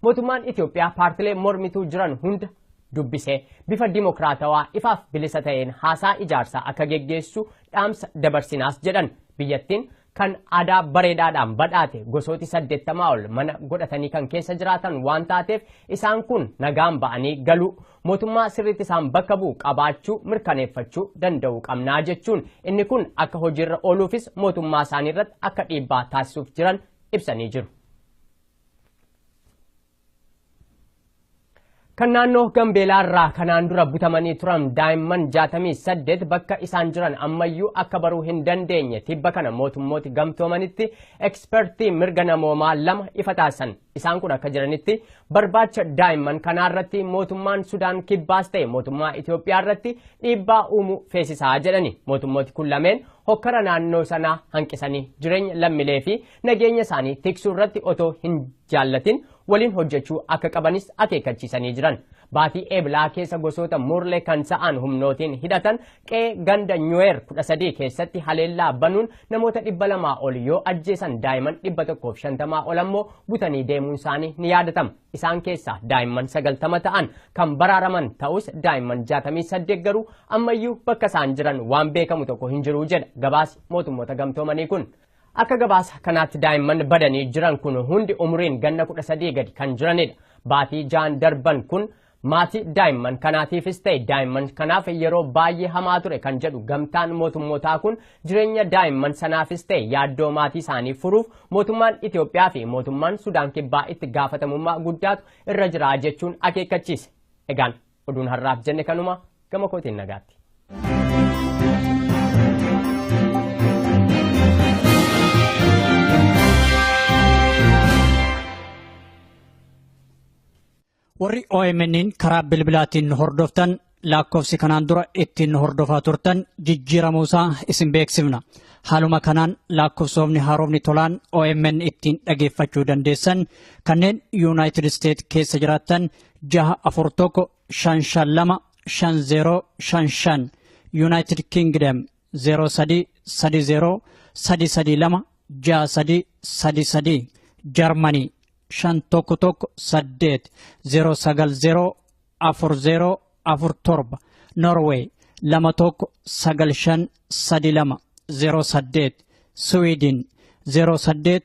Mootummaan Itoophiyaa paartilee mormituu jiran hunda dubbisee bifa dimokiraatawaa ifaaf bilisa ta'een haasaa ijaarsaa akka geggeessu dhaamsa dabarsinaas jedhan biyyattiin kan aadaa bareedaadhaan badhaate gosooti saddeettamaa ol mana godhatanii kan keessa jiraatan waan taateef isaan kun nagaan ba'anii galuu mootummaa sirriitti isaan bakka bu'u qabaachuu mirkaneeffachuu danda'uu qabnaa jechuun inni kun akka hojiirra ooluufis mootummaa isaanii irratti akka dhiibbaa taasisuuf jiran ibsanii jiru. Kan naannoo Gambeelaa irraa kanaan dura butamanii turan daa'imman 68 bakka isaan jiran ammayyuu akka baruu hin dandeenye tibba kana mootummooti gamtoomanitti ekspertii mirga namoomaa lama ifa taasisan. Isaan kun akka jiranitti barbaacha daa'imman kanaa irratti mootummaan Sudaan kibbaas ta'e mootummaa Itoophiyaa irratti dhiibbaa uumuu feesisaa jedhani. Mootummooti kun lameen hokkara naannoo sanaa hanqisanii jireenya lammilee fi nageenya isaanii tiksuu irratti otoo hin jaallatin waliin hojjechuu akka qabanis akeekkachiisanii jiran. Baatii Eeblaa keessa gosoota Murlee kan ta'an humnootiin hidhatan qe'ee ganda Nyuweer 13 keessatti haleellaa banuun namoota 200 ol yoo ajjeesan daa'imman 150 ol ammoo butanii deemuun isaanii ni yaadatama. Isaan keessaa daa'imman 90 ta'an kan baraaraman ta'us daa'imman 68 garuu ammayyuu bakka isaan jiran waan beekamu tokko hin jiru jedha gabaasi mootummoota gamtoomanii kun. Akka gabaasa kanaatti daa'imman badanii jiran kun hundi umuriin ganna 13 gadi kan jiranidha. Baatii ja'an darban kun maatii daa'imman kanaatiifis ta'e daa'imman kanaaf yeroo baay'ee hamaa ture kan jedhu gamtaan mootummootaa kun jireenya daa'imman sanaafis ta'e yaaddoo maatii isaanii furuuf mootummaan Itoophiyaa fi mootummaan Sudaan Kibbaa itti gaafatamummaa guddaatu irra jira jechuun akeekkachiise. Egaan Oduun har'aaf jenne kanuma gama kootiin nagaatti. Warri OMN'n karaa bilbilaatiin hordoftan lakkoofsi kanaan dura ittiin hordofaa turtan jijjiiramuusaa isin beeksifna. Haaluma kanaan lakkoofsoofni haaromni tolaan OMN ittiin dhageeffachuu dandeessan kanneen Yuunaayitid Isteet keessa jiraattan jaha afur tokko shan shan lama shan zeeroo shan shan yuunaayitid kiingidam zeeroo sadii sadi zeeroo sadi sadi lama jaha sadii sadi sadii jarmanii shan tokko tokko saddeet zeeroo sagal zeeroo afur zeeroo afur torba norweey lama tokko sagal shan sadi lama zeeroo saddeet siwiidin zeeroo saddeet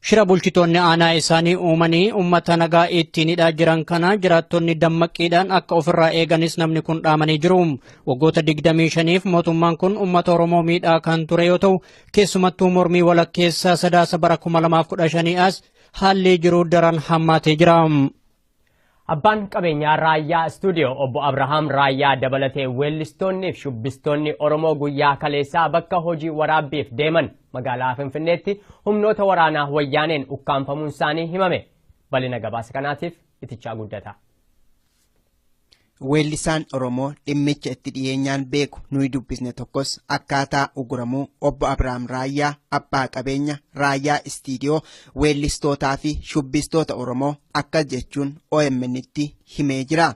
Shira bulchitoonni aanaa isaanii uumanii uummata nagaa ittiin hidhaa jiran kana jiraattonni dammaqqiidhaan akka ofirraa eeganis namni kun dhaamanii jiru. Waggoota 25f mootummaan kun uummata Oromoo miidhaa kan ture yoo ta'u, keessumattuu mormii walakkeessaa sadaasa bara 2015 as haalli jiru daran hammaatee jira. Abbaan qabeenyaa Raayyaa Istuudiyoo obbo Abrahaam Raayyaa dabalatee weellistoonni fi shubbistoonni Oromoo guyyaa kaleessaa bakka hojii waraabbiif deeman magaalaa Finfinneetti humnoota waraanaa wayyaaneen ukkaamfamuun isaanii himame. Bal'ina gabaasa kanaatiif itichaa guddataa. Weellisaan Oromoo dhimmicha itti dhiyeenyaan beeku nuyi dubbisne tokkos akkaataa uguramuu obbo Abiraam Raayyaa abbaa qabeenya Raayyaa Istiidiyoo weellistootaa fi shubbistoota Oromoo akkas jechuun OMN'tti himee jira.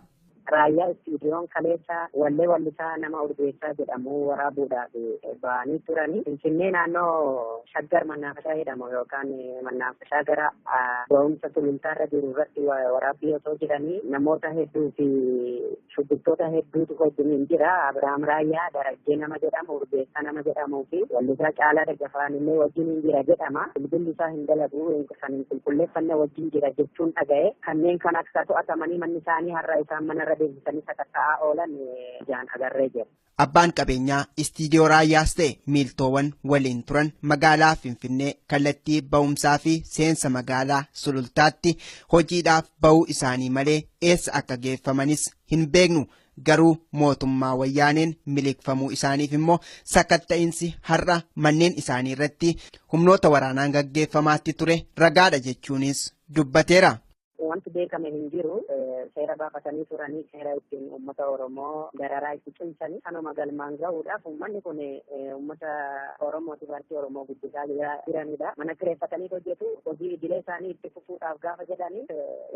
Raayyaa Istiidiyoon kaleessa wallee wallisaa nama Urgeessaa jedhamu waraabuudhaaf ba'anii turanii Finfinnee naannoo Shaggar Mannaafashaa jedhamu yookaan Mannaaf isaa gara ga'umsa sulultaarra jiru irratti waraabbii osoo jiranii namoota hedduu fi shubbiftoota hedduutu wajjiniin jira. Abiraam Raayyaa Darajjee nama jedhamu, Urgeessaa nama jedhamuu fi wallisaa Caalaa Daggafaan illee wajjiniin jira jedhama. Bilbilli isaa hin dalagu kan hin qulqulleeffanne wajjin jira jechuun dhaga'e. Kanneen kan akka to'atamanii manni isaanii har'a isaan manarra deebisanii sakatta'aa oolan ijaan agarree jira. Abbaan qabeenyaa istiidiyoo raayyaas ta'e miiltoowan waliin turan magaalaa Finfinnee kallattii ba'umsaa fi seensa magaalaa Sulultaatti hojiidhaaf ba'uu isaanii malee eessa akka geeffamanis hin beeknu. Garuu mootummaa wayyaaneen miliqfamuu isaaniif immoo sakatta'insi har'a manneen isaanii irratti humnoota waraanaan gaggeeffamaatti ture ragaadha jechuunis dubbateera. Wanti beekame hin jiru seera baafatanii turanii seera ittiin uummata Oromoo dararaa itti cimsanii kanuma galmaan gahuudhaaf uummanni kun uummata Oromootiif harki Oromoo guddisaa jiranidha. Mana kireeffatanii hojjetu hojii idilee isaanii itti fufuudhaaf gaafa jedhanii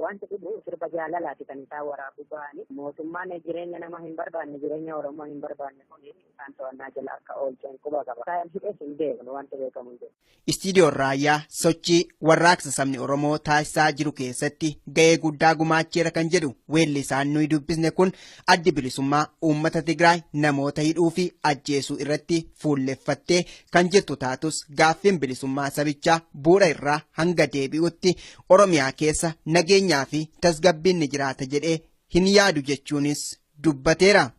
wanti dhibu sirba jaalalaati kan isaan waraabuu ba'anii mootummaan jireenya nama hin barbaanne jireenya Oromoo hin barbaanne kun isaan to'annaa jala akka oolcheen quba qaba. Isaan hidhees hin beeknu wanti beekamu hin jiru. Istiidiyoon Raayyaa sochii warraaqsa sabni Oromoo taasisaa jiru keessatti ga'ee guddaa gumaacheera kan jedhu weellisaan nuyi dubbisne kun addi bilisummaa uummata Tigraay namoota hidhuu fi ajjeesuu irratti fuulleffattee kan jirtu taatus gaaffiin bilisummaa sabichaa bu'uura irraa hanga deebi'utti Oromiyaa keessa nageenyaa fi tasgabbiin ni jiraata jedhee hin yaadu jechuunis dubbateera.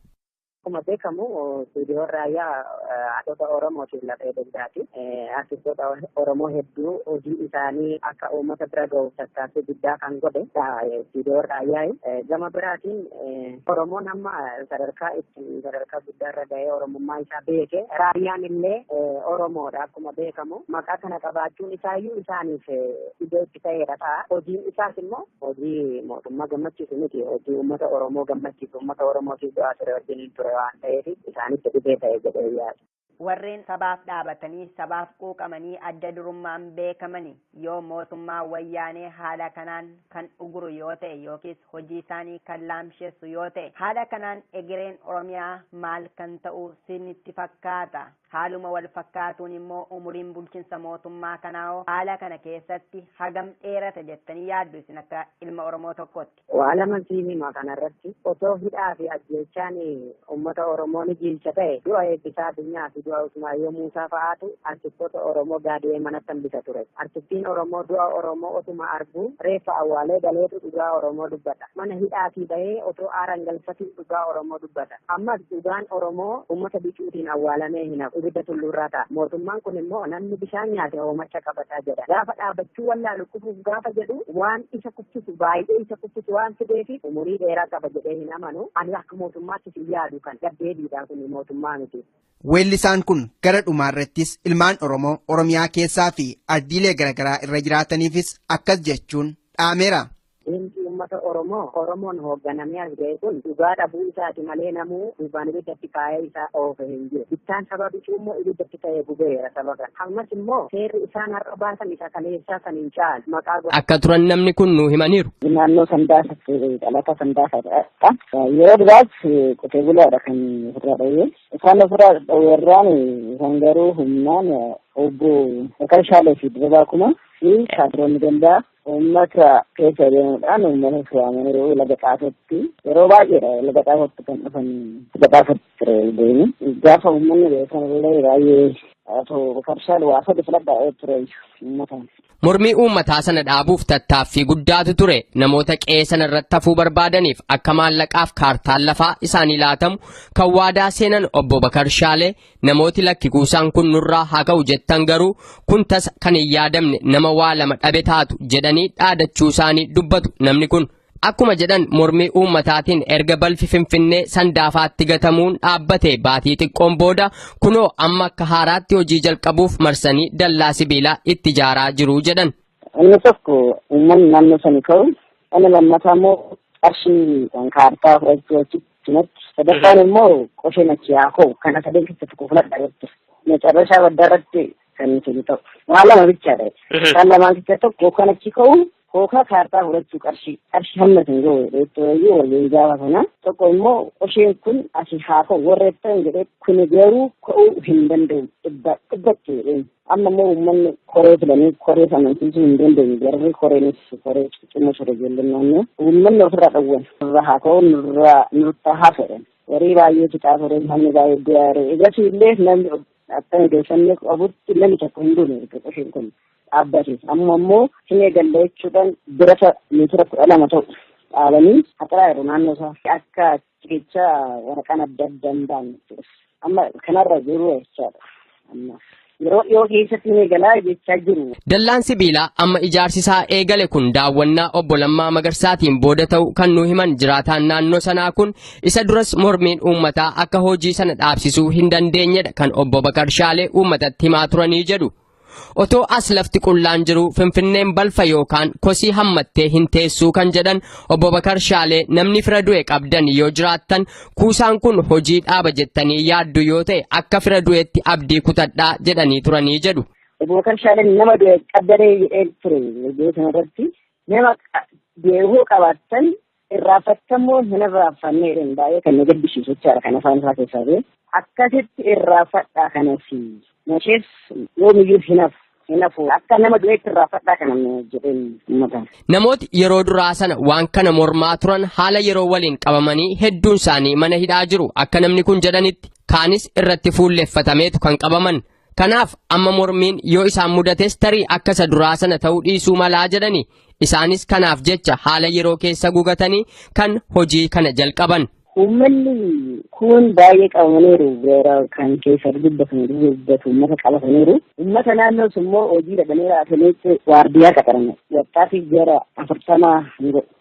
Akkuma beekamu Geediyoon Raayyaa haadhota Oromootiin lafee dugdaati. Artistoota Oromoo hedduu hojii isaanii akka uummata bira gahuuf tattaaffii guddaa kan godhe Geediyoon Raayyaa. Gama biraatiin Oromoon amma sadarkaa itti sadarkaa guddaarra gahee Oromummaa isaa beeke. Raayyaan illee Oromoodha akkuma beekamu. Maqaa kana qabaachuun isaayyuu isaaniif iddoo ta'eera ta'a. Hojiin isaas immoo hojii mootummaa gammachiisu miti. Hojii uummata Oromoo gammachiisu uummata Oromootiif du'aa ture wajjiniin ture waan ta'eef isaanitti dhibee ta'e jedhee yaada. Warreen sabaaf dhaabatanii, sabaaf quuqamanii adda durummaan beekamani yoo mootummaa wayyaanee haala kanaan kan uguru yoo ta'e yookiis hojii isaanii kan laamshessu yoo ta'e haala kanaan egereen Oromiyaa maal kan ta'u sinitti fakkaata? Haaluma wal fakkaatuun immoo umuriin bulchinsa mootummaa kanaahoo haala kana keessatti hagam dheerata jettanii yaaddu isin akka ilma Oromoo tokkootti? Waa laman siin hima kana irratti. Osoo hidhaa fi ajjeechaan uummata Oromoo ni jiilcha ta'e du'a Eebbisaa Addunyaa fi du'a Usmaayyoo Muusaa fa'aatu artistoota Oromoo gaadi'ee manatti hambisa ture. Artistiin Oromoo du'a Oromoo otuma arguu reeffa awwaalee galeetu dhugaa Oromoo dubbata. Mana hidhaatii bahee otoo aaran galfatuu dhugaa Oromoo dubbata. Ammas dhugaan Oromoo uummata bicuutiin awwaalamee hin hafu. Ibidda tulluurraa ta'a. Mootummaan kun immoo namni bishaan nyaate hoomacha qabata jedha. Gaafa dhaabbachuu wallaalu kufuuf gaafa jedhu waan isa kuffisu baay'ee isa kuffisu waan fideefi umurii dheeraa qaba jedhee hin amanu. Ani akka mootummaattis hin yaadu kan gaddeebiidha kun mootummaa miti. Weellisaan kun gara dhumaarrattis ilmaan Oromoo Oromiyaa keessaa fi ardiilee garaagaraa irra jiraataniifis akkas jechuun dhaameera. Diinqii uummata Oromoo Oromoon hoogganamee as ga'e kun dhugaa dhabuu isaati malee namuu duubaan ibiddatti kaa'ee isa oofe hin jiru. Bittaan saba bicuu immoo ibiddatti ta'ee gubeera saba kana. Ammas immoo seerri isaan har'a baasan isa kaleessaa san hin caalu. Maqaa godhatu. akka turan namni kun nuu himaniiru. naannoo sandaasa dhalataa sandaasa dha. Yeroo duraas qotee bulaadha kan ofirraa dhowwee. Isaan ofirraa dhowwee irraan isaan garuu humnaan obbo Bakar Shaalee fi Dirribaa Kumaa fi Shaadiroonni Gandaa Uummata keessa deemuudhaan uummata waamanii laga xaafootti yeroo baay'eedha laga xaafootti kan dhufan laga xaafootti ture deemu. Gaafa uummanni beekan illee baay'ee otoo karshaan waa sadi filadhaa ture uummata. Mormii uummataa sana dhaabuuf tattaaffii guddaatu ture. Namoota qe'ee sana irratti hafuu barbaadaniif akka maallaqaaf kaartaan lafaa isaanii laatamu kan waadaa seenan obbo Bakar Shaalee Namooti lakki kuusaan kun nurraa haa ka'u jettan garuu kun tasa kan hin yaadamne nama waa lama dhabe taatu jedhanii dhaadachuu isaanii dubbatu namni kun. Akkuma jedhan mormii uummataatiin erga balfi Finfinnee sandaafaatti gatamuun dhaabbate baatii xiqqoon booda kunoo amma akka haaraatti hojii jalqabuuf marsanii dallaa sibiilaa itti ijaaraa jiru jedhan. Inni tokko uummanni naannoo sanii ka'u inni lammataa immoo qarshii kan kaartaa fudhachuu achitti Cinatti sadaffaan immoo qosee machiyaa koo kana sadeen keessa tokko filadha jechuudha. Macarrashaa baddaa irratti kan nuti nu ta'u. Waan lama bichaadha. Isaan lamaan keessa tokko kan achi ka'u kookaa kaartaa fudhachuu qarshii qarshii hamma isin ga'u jechuudha waliin gaafa sana. Tokko immoo qosheen kun asii haa ka'u warra jettan jedhee kun garuu ka'uu hin danda'u dhibba dhibbatti jedheen. Amma immoo uummanni koree filanii koree sana amansiisuu hin dandeenye garuu koreenis koree ciccimoo ture ijoolleen naannoo uummanni ofirraa dhowwan nurra haa ka'u nurra nurta haa fedhan warii baay'ee fixaa ture namni baay'ee du'aa ture egasii illee namni akka odeeffannoo qabutti namni tokko hin duune erga qoshiin kun dhaabbate amma immoo hin eegalle jechuudhaan birata meetira kudha lama ta'u dhaabanii haxaraa jiru naannoo isaa akka Jecha waraqaan adda adda hin baane jechuudha. Amma kanarra jiru jechaadha. Amma yeroo dhiyoo keessatti ni galaa jechaa jiru. Dallaan sibiilaa amma ijaarsi isaa eegale kun daawwannaa obbo Lammaa Magarsaatiin booda ta'u kan nu himan jiraataan naannoo sanaa kun isa duras mormiin uummataa akka hojii sana dhaabsisuu hin dandeenyedha kan obbo Bakar Shaalee uummatatti himaa turanii jedhu. Otoo as lafti qullaan jiru Finfinneen balfa yookaan kosii hammattee hin teessuu kan jedhan obbo Bakar Shaalee namni fira du'e qabdan yoo jiraattan kuusaan kun hojii dhaaba jettanii yaaddu yoo ta'e akka fira du'etti abdii kutadhaa jedhanii turanii jedhu. Obbo Bakar Shaaleen nama du'e qabdanee jedhee ture viidiyoo sanarratti nama du'e yoo qabaattan Irraaffattamuun hin irraaffanne jedheen baay'ee kan na gaddisiisu jechaadha kan afaan isaa keessaa ba'e. Akkasitti irraafadhaa kanasi nashees yoomiyyuu hin hafu. Hin hafu akka nama du'eetti irraafadhaa kana jedheen uummata. Namooti yeroo duraa sana waan kana mormaa turan haala yeroo waliin qabamanii hedduun isaanii mana hidhaa jiru akka namni kun jedhanitti kaanis irratti fuulleffatameetu kan qabaman Kanaaf amma mormiin yoo isaan mudates tarii akka isa duraa sana ta'uu dhiisuu malaa jedhani. Isaanis kanaaf jecha haala yeroo keessa gugatanii kan hojii kana jalqaban. Uummanni kun baay'ee qabamaniiru beera kan keessa dubbatan dubbatu uummata qabataniiru. Uummata naannoo sun immoo hojii dhabanii raafaniitti waardiyaa qaxaran wattaatiif gara afurtama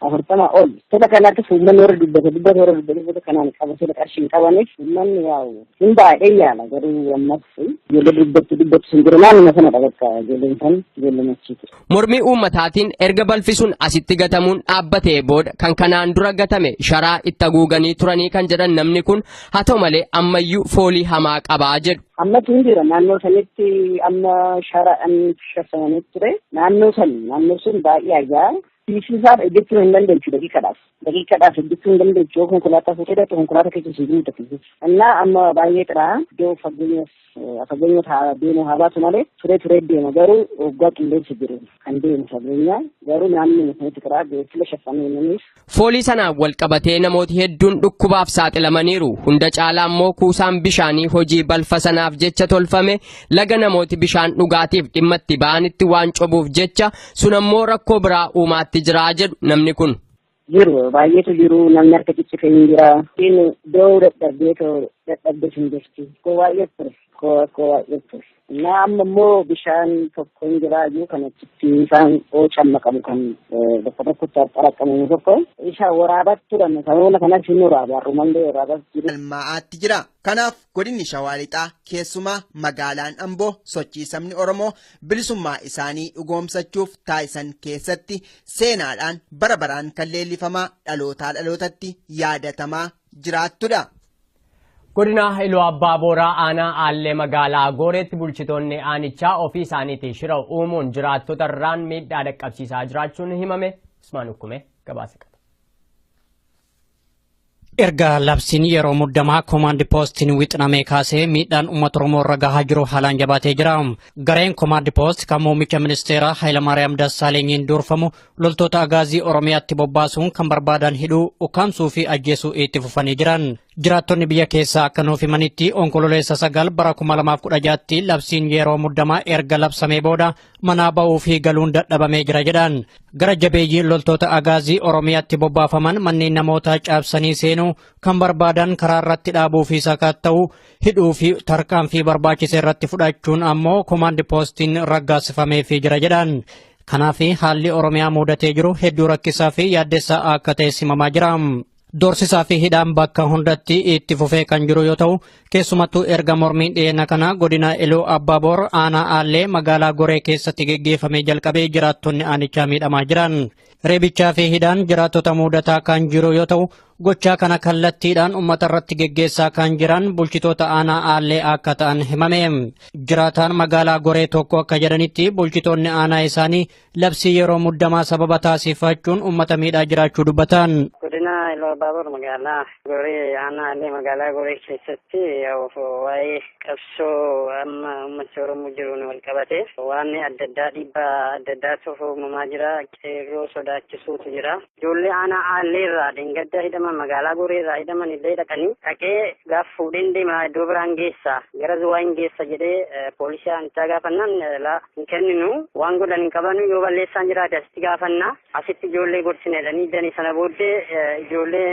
afurtama ol. Tola kanaattis uummanni warra dubbata dubbata warra dubbata dubbata kanaan qabatee qarshii hin qabaniif uummanni yaa'u Hin baay'ee yaala garuu ammas ijoollee dubbatti dubbatti sun jiru naannuma sana dhabatta ijoolleen san ijoollee machiiti. Mormii uummataatiin erga balfi sun asitti gatamuun dhaabbatee booda kan kanaan dura gatame sharaa itti haguuganii turanii kan jedhan namni kun haa ta'u malee ammayyuu foolii hamaa qabaa jedhu. Ammas hin jira naannoo sanitti amma sharaadhaan shashamanii ture naannoo san naannoo sun baay'ee ajaa fiisisaaf ejjechuu hin dandeenyu daqiiqadhaaf. daqiiqaadhaaf hojjechuu hin dandeechu yoo konkolaataa fuutee dhaqxe konkolaataa keessa siif hin tafisu innaa amma baay'ee xiraa iddoo fageenyas fageenyas haa deemu haa baatu malee turee turee deema garuu waggaa qilleensi jiru kan deemu fageenya garuu naannoo mukanitti xiraa beeksila shaffamee namiif. Foolii sanaan wal qabatee namooti hedduun dhukkubaaf saaxilamaniiru hunda caalaa immoo kuusaan bishaanii hojii balfa sanaaf jecha tolfame laga namooti bishaan dhugaatiif dhimma itti ba'anitti waan cobuuf jecha Sun ammoo rakkoo biraa uumaatti jira jedhu namni kun. jiru baay'eetu jiru namni harka ciccite hin jira inni doo dadhabdee too dadhabdee hin jirti koo baay'ee ture koo koo baay'ee ture na amma immoo bishaan tokko hin jira iyyuu kan achitti isaan oocan maqamu kan bakka tokkotti xaraqqamu tokko isa waraabat turan sababna kanas hin waraabu har'umallee waraabat jiru. galmaa'aatti jira kanaaf Godinni Shawaa Lixaa keessumaa magaalaan Amboo sochii sabni Oromoo bilisummaa isaanii dhugoomsachuuf taasisan keessatti seenaadhaan bara baraan kan leellifamaa dhalootaa dhalootatti yaadatamaa jiraattudha. Godina Iluu Abbaa Booraa aanaa Aallee magaalaa Gooreetti bulchitoonni aanichaa ofii isaaniitiin shira uumuun jiraattota irraan miidhaa dhaqqabsiisaa jiraachuun himame Usmaan Ukkumee gabaasa qaba. Erga labsiin yeroo muddamaa komaandi poostiin wixinamee kaasee miidhaan uummata Oromoo irra gahaa jiru haalaan jabaatee jira. Gareen komaandi poost kan muummicha ministeeraa Hayilamaariyaam Dassaalenyiin durfamu loltoota agaazii Oromiyaatti bobbaasuun kan barbaadan hidhuu, ukkaamsuu fi ajjeesuu itti fufanii jiran. Jiraattonni biyya keessaa akka nuuf himanitti onkololeessa sagal bara 2016tti labsiin yeroo muddamaa erga labsamee booda manaa ba'uu fi galuun dadhabamee jira jedhan. Gara jabeeyyiin loltoota agaazii Oromiyaatti bobbaafaman manneen namootaa caabsanii seenuu kan barbaadan karaa irratti dhaabuu fi sakatta'uu hidhuu fi tarkaanfii barbaachise irratti fudhachuun ammoo komaandi poostiin raggaasifamee fi jira jedhan. Kanaaf haalli Oromiyaa muudatee jiru hedduu rakkisaa fi yaaddessaa akka ta'e simamaa jira. Doorsisaa fi hidhaan bakka hundatti itti fufee kan jiru yoo ta'u, keessumattuu erga mormiin dhiyeenya kana godina Iluu Abbaaboor aanaa Aallee magaalaa Goree keessatti geggeeffamee jalqabee jiraattonni aanichaa miidhamaa jiran. Reebichaa fi hidhaan jiraattota muudataa kan jiru yoo ta'u, gochaa kana kallattiidhaan uummata irratti geggeessaa kan jiran bulchitoota aanaa Aallee akka ta'an himame. Jiraataan magaalaa Goree tokko akka jedhanitti bulchitoonni aanaa isaanii Labsii yeroo muddamaa sababa taasifachuun uummata miidhaa jiraachuu dubbatan. Godina Iluu Baabur magaalaa Gorii aanaa Allee magaalaa Gorii keessatti waa'ee qabsoo amma uummatni Oromoo jiruun wal qabate waan adda addaa dhiibbaa adda addaatu uumamaa jira. Qeerroo sodaachisuutu jira. Ijoollee aanaa Aallee irraa dheengadda hidhaman magaalaa Goree irraa hidhaman illee dhaqanii dhaqee gaaf fuudheen deema iddoo biraan geessa gara Zuwaa hin geessa jedhee poolisii aanichaa gaafannaan laa hin kenninu waan godhan hin qabanu yoo balleessaan jiraate asitti gaafanna asitti ijoollee gorsina jedhanii danii sana booddee ijoollee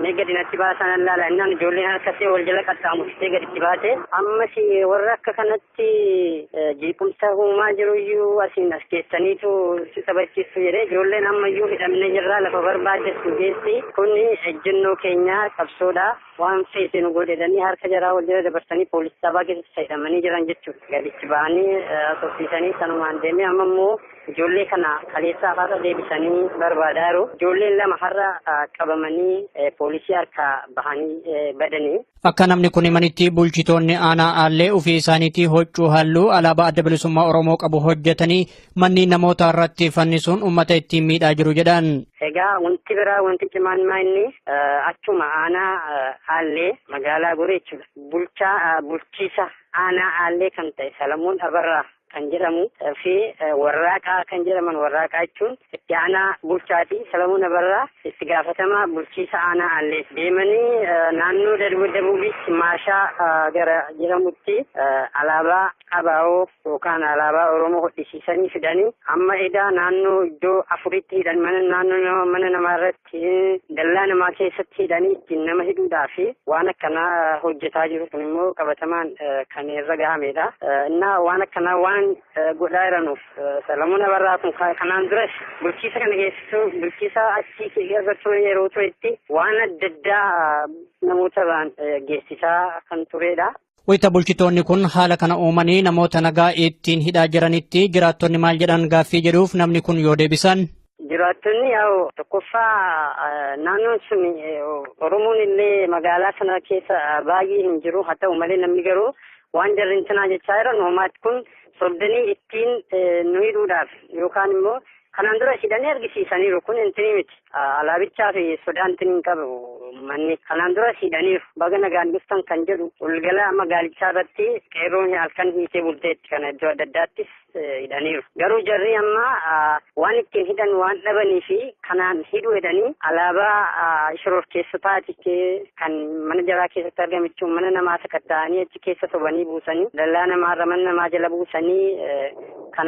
mee gadi natti baasan allaala innaan ijoolleen harkatti wal jala qaxxaamurtee gaditti baate ammas warra akka kanatti irratti jeequmsa uumaa jiru iyyuu asiin as keessaniitu si taphachiistu jedhee ijoolleen amma iyyuu hidhamne jirraa lafa barbaaddetu geessi kun ejjennoo keenyaa qabsoodha waan feete nu godhedhanii harka jaraa wal jala dabarsanii poolisii sabaa keessatti hidhamanii jiran jechuudha gadichi ba'anii soffiisanii sanumaan deemee amma immoo ijoollee kana kaleessaa har'a deebisanii barbaadaa jiru ijoolleen lama har'a qabamanii poolisii harkaa bahanii badanii Akka namni kun himanitti bulchitoonni aanaa aallee ofii isaaniitii hoccuu halluu alaabaa adda bilisummaa Oromoo qabu hojjetanii manneen namoota irratti fannisuun uummata ittiin miidhaa jiru jedhan. Egaa wanti biraa wanti cimaan maa inni achuma aanaa aallee magaalaa goree jechuudha. Bulchaa bulchiisa aanaa aallee kan ta'e Salamoon Abarraa kan jedhamu fi Warraaqaa kan jedhaman Warraaqaa jechuun itti aanaa bulchaati. Salamuun Abarraa itti gaafatamaa bulchiisa aanaa Aallee deemanii naannoo Dabuubiitti Maashaa gara jedhamutti alaabaa Abaawoo yookaan alaabaa Oromoo hodhisiisanii fidanii amma edaa naannoo iddoo afuritti hidhan mana naannoo mana namaa irratti dallaa namaa keessatti hidhanii ittiin nama hidhuudhaa fi waan akkanaa hojjetaa jiru kun immoo qabatamaan kan irra gahamedha. Innaa waan akkanaa waan godhaa jiranuuf Salamuun Abarraa kun kanaan duras bulchiisa kana keessattuu bulchiisa achii irra ture yeroo turetti waan adda addaa namoota irraan geessisaa kan turedha. Wayita bulchitoonni kun haala kana uumanii namoota nagaa ittiin hidhaa jiranitti jiraattonni maal jedhan gaaffii jedhuuf namni kun yoo deebisan. Jiraattonni yaa'u tokkoffaa naannoon sun Oromoon illee magaalaa sana keessa baay'ee hin jiru haa ta'u malee namni garuu waan jarri intinaa jechaa jiran uumaatti kun sobdanii ittiin nu hidhuudhaaf yookaan immoo Kanaan dura hidhanii argisiisaniiru kun intinii miti alaabichaa fi sodaa intinii hin qabu manni kanaan dura hidhaniiru baga nagaan dhuftan kan jedhu walgala magaalichaa irratti qeerroon halkan hiitee bulteetti kana iddoo adda addaattis hidhaniiru garuu jarri amma waan ittiin hidhan waan dhabanii fi kanaan hidhu jedhanii alaabaa shororkeessotaati kan mana jaraa keessatti argamichuun mana namaa sakatta'anii achi keessa sobanii buusanii dallaa namaarra mana namaa jala buusanii kan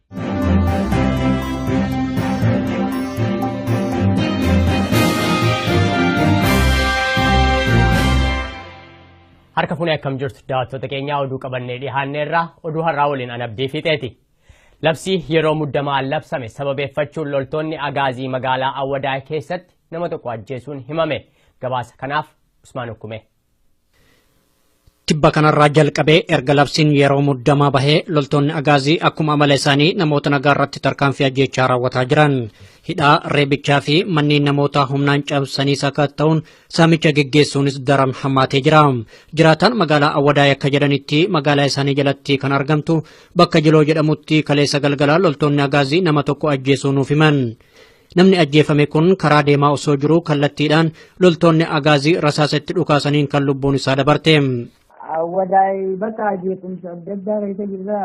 Harka fuunee akkam jirtu daawwattoota keenyaa oduu qabannee dhiyaanneerra oduu har'aa waliin an abdii fiixeeti. Labsii yeroo muddamaa labsame sababeeffachuun loltoonni agaazii magaalaa Awwadaay keessatti nama tokko ajjeesuun himame. Gabaasa kanaaf Usmaan Ukkumee. Tibba kanarraa jalqabee erga labsiin yeroo muddamaa bahee loltoonni agaazii akkuma amala isaanii namoota nagaa irratti tarkaanfii ajjeechaa raawwataa jiran. Hidhaa, reebichaa fi manneen namootaa humnaan cabsanii sakatta'uun saamicha geggeessuunis daran hammaatee jira. Jiraataan magaalaa Awwadaay akka jedhanitti magaalaa isaanii jalatti kan argamtu bakka Jiloo jedhamutti kaleessa galgalaa loltoonni agaazii nama tokko ajjeesuu nuuf himan. Namni ajjeefame kun karaa deemaa osoo jiruu kallattiidhaan loltoonni agaazii rasaasa itti dhukaasaniin kan lubbuun isaa dabarte. Wadaay bakka jeequmsa adda addaa keessa jirra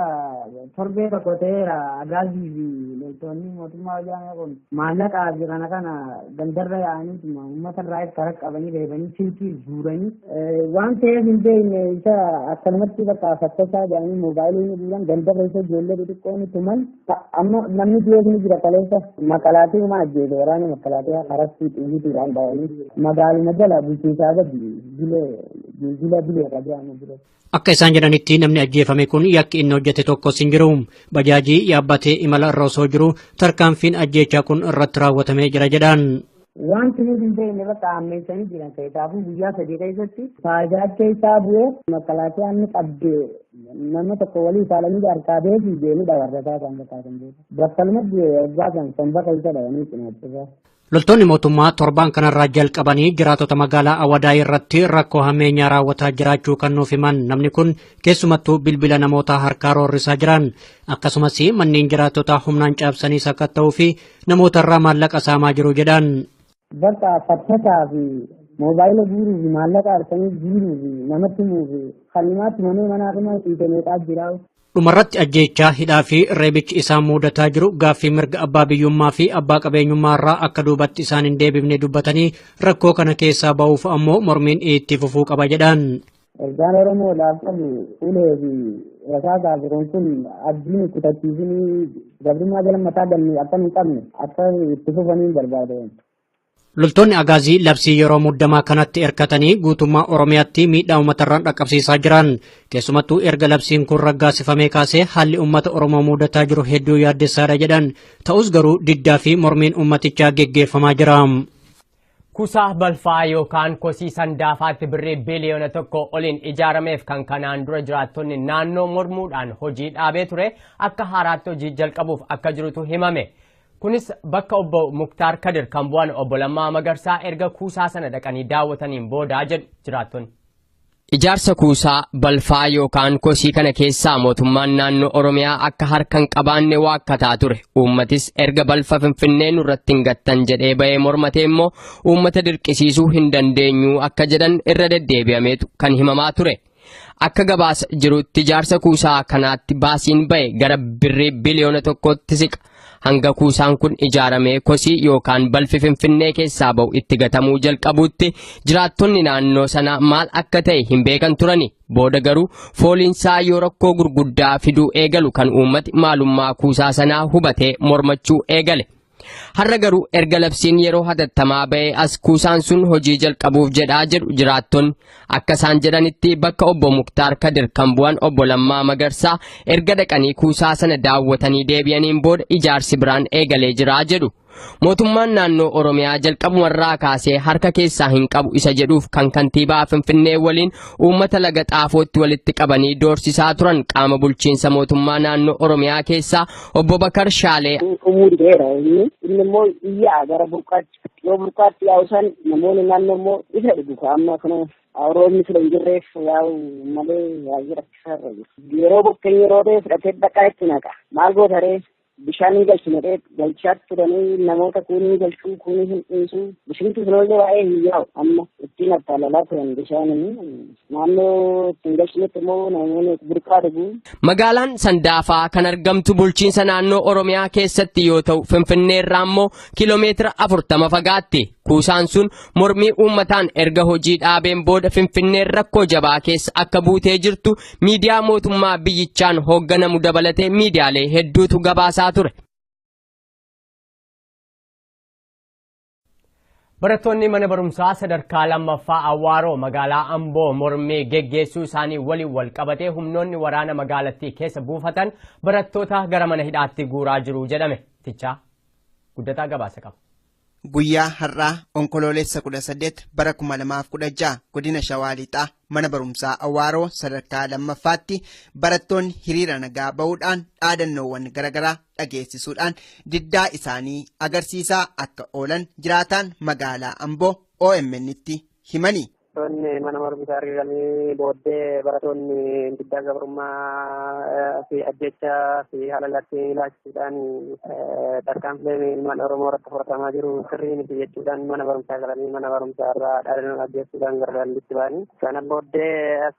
torbee tokko ta'eera agaazii fi loltoonni mootummaa wayyaanee kun maallaqaa fi kana kana gandarra yaa'aniituma uummata irraa itti harka qabanii reebanii silkii guuranii waan ta'eef hin beekne isa akkanumatti bakka fakkachaa jedhanii moobaayilii ni guuran gandarra isa ijoollee xixiqqoo ni tuman Amma namni du'ees ni jira kaleessa makalaatii uma ajjeese waraana makalaatii harastii xiyyiitiidhaan dhawanii magaaluma jala bulchiinsaa gadi bilee jila bilee qajaama bire. Akka isaan jedhanitti namni ajjeefame kun yakki inni hojjete tokkos hin jiru. Bajaajii yaabbatee imala irra osoo jiru tarkaanfiin ajjeechaa kun irratti raawwatamee jira jedhan. Wanti nuti hin beekne bakka hammeessanii jiran keessaafuu guyyaa sadii keessatti faayidaa keessaa bu'ee makalaatiyaan ni qabde nama tokko walii saalanii harkaa beekii deemuu dhabarrataa kan bakaatan beeku. Battalumatti waggaa kan somba keessa dhayanii cinaachisaa. Loltoonni mootummaa torbaan kanarraa jalqabanii jiraatota magaalaa Awadaa irratti rakkoo hammeenyaa raawwataa jiraachuu kan nuuf himan namni kun keessumattuu bilbila namootaa harkaa roorrisaa jiran akkasumas manneen jiraattotaa humnaan caabsanii sakatta'uu fi namoota irraa maallaqa saamaa jiru jedhan. Bakka fattasaa fi moobaayila guuruu fi maallaqa harkanii jiiruu fi namatti himuu fi kannimaatti manee manaa dhuma dhiite meeqaa jira. Dhumarratti ajjeechaa hidhaa fi reebichi isaan muudataa jiru gaaffii mirga abbaa biyyummaa fi abbaa qabeenyummaa irraa akka duubatti isaan hin deebifne dubbatanii rakkoo kana keessaa ba'uuf ammoo mormiin itti fufuu qaba jedhan. Ergaan Oromoodhaaf qabu ulee fi rasaasaa fi kun kun abdii nu kutachiisinii gabrummaa jala mataa galnee akka nu qabne akka itti fufanii barbaada. Loltoonni Agaazii labsii yeroo muddamaa kanatti erkatanii guutummaa Oromiyaatti miidhaa uummatarraan dhaqqabsiisaa jiran. Keessumattuu erga labsiin kun raggaasifamee kaasee haalli uummata Oromoo mudataa jiru hedduu yaaddessaadha jedhan. Ta'us garuu diddaa fi mormiin uummatichaa geggeeffamaa jira. Kusa balfaa yookaan kosii Sandaafaatti birrii biliyoona tokko oliin ijaarameef kan kanaan dura jiraattonni naannoo mormuudhaan hojii dhaabee ture akka haaraatti hojii jalqabuuf akka jirutu himame. Kunis bakka obbo Muktaar Kadir kan bu'an obbo Lammaa Magarsaa erga kuusaa sana dhaqanii daawwataniin boodaa jedhu jiraattonni. Ijaarsa kuusaa balfaa yookaan kosii kana keessaa mootummaan naannoo Oromiyaa akka harka hin qabaanne waakkataa ture. Uummatis erga balfa Finfinnee nurratti hin gattan jedhee bahee mormatee immoo uummata dirqisiisuu hin dandeenyu akka jedhan irra deddeebi'ameetu kan himamaa ture. Akka gabaasa jirutti ijaarsa kuusaa kanaatti baasiin bahe gara birrii biliyoona tokkootti siqa. Hanga kuusaan kun ijaaramee kosii yookaan balfi Finfinnee keessaa ba'u itti gatamuu jalqabuutti jiraattonni naannoo sanaa maal akka ta'e hin beekan turani. Booda garuu fooliinsaa yoo rakkoo gurguddaa fiduu eegalu kan uummati maalummaa kuusaa sanaa hubatee mormachuu eegale. Har'a garuu erga labsiin yeroo hatattamaa ba'ee as kuusaan sun hojii jalqabuuf jedhaa jedhu jiraattonni. Akka isaan jedhanitti bakka obbo Muktaar Kadir kan bu'an obbo Lammaa Magarsaa erga dhaqanii kuusaa sana daawwatanii deebi'aniin booda ijaarsi biraan eegalee jira jedhu. Mootummaan naannoo Oromiyaa jalqabumarraa kaasee harka keessaa hin qabu isa jedhuuf kan kantiibaa Finfinnee waliin uummata laga xaafootti walitti qabanii doorsisaa turan qaama bulchiinsa mootummaa naannoo Oromiyaa keessaa obbo Bakar Shaalee Umurii dheeraa inni immoo iyyaa gara burqaatti Yoo burqaatti yaa'u san namoonni naannoo immoo isa dhugu ka amma kana roobni sila hin jirreef yaa'u malee yaa'ii rakkisaarra jiru. Yeroo bokkeen yeroo ta'e fudhatee dhaqaa itti naqa. Maal goota ree? Bishaan hin galchine ree galchaa turanii namoota kuunii galchuu kuunii hin dhiisuu. Bishinti sun illee waa'ee hin yaa'u amma ittiin attaalalaa turan bishaanii. Naannoo ittiin galchinetti immoo namoonni burqaa dhugu. Magaalaan Sandaafaa kan argamtu bulchiinsa naannoo Oromiyaa keessatti yoo ta'u Finfinnee irraa immoo kiiloomeetira 40 fagaatti. Kuusaan sun mormii uummataan erga hojii dhaabeen booda Finfinneen rakkoo jabaa keessa akka buutee jirtu miidiyaa mootummaa biyyichaan hoogganamu dabalatee miidiyaalee hedduutu gabaasaa ture. Barattoonni mana barumsaa sadarkaa lammaffaa Awwaaroo magaalaa Amboo mormii geggeessuu isaanii waliin wal qabatee humnoonni waraana magaalattii keessa buufatan barattoota gara mana hidhaatti guuraa jiru jedhame. Tichaa guddataa gabaasa qaba. Guyyaa har'aa onkoloolessa 18 bara 2016 godina Shawaa Lixaa mana barumsaa Awaaroo sadarkaa lammaffaatti barattoonni hiriira nagaa ba'uudhaan dhaadannoowwan garaagaraa dhageessisuudhaan diddaa isaanii agarsiisaa akka oolan jiraataan magaalaa Amboo OMN'tti himani. Barattoonni mana barumsaa hiriiranii booddee barattoonni diddaa gabrummaa fi ajjechaa fi haalalatti ilaachuudhaan tarkaanfileen ilmaan Oromoo irratti fudhatamaa jiru sirrii miti jechuudhaan mana barumsaa galanii mana barumsaa irraa dhaadannoo dhageessuudhaan gara daandiitti ba'anii. Kana booddee as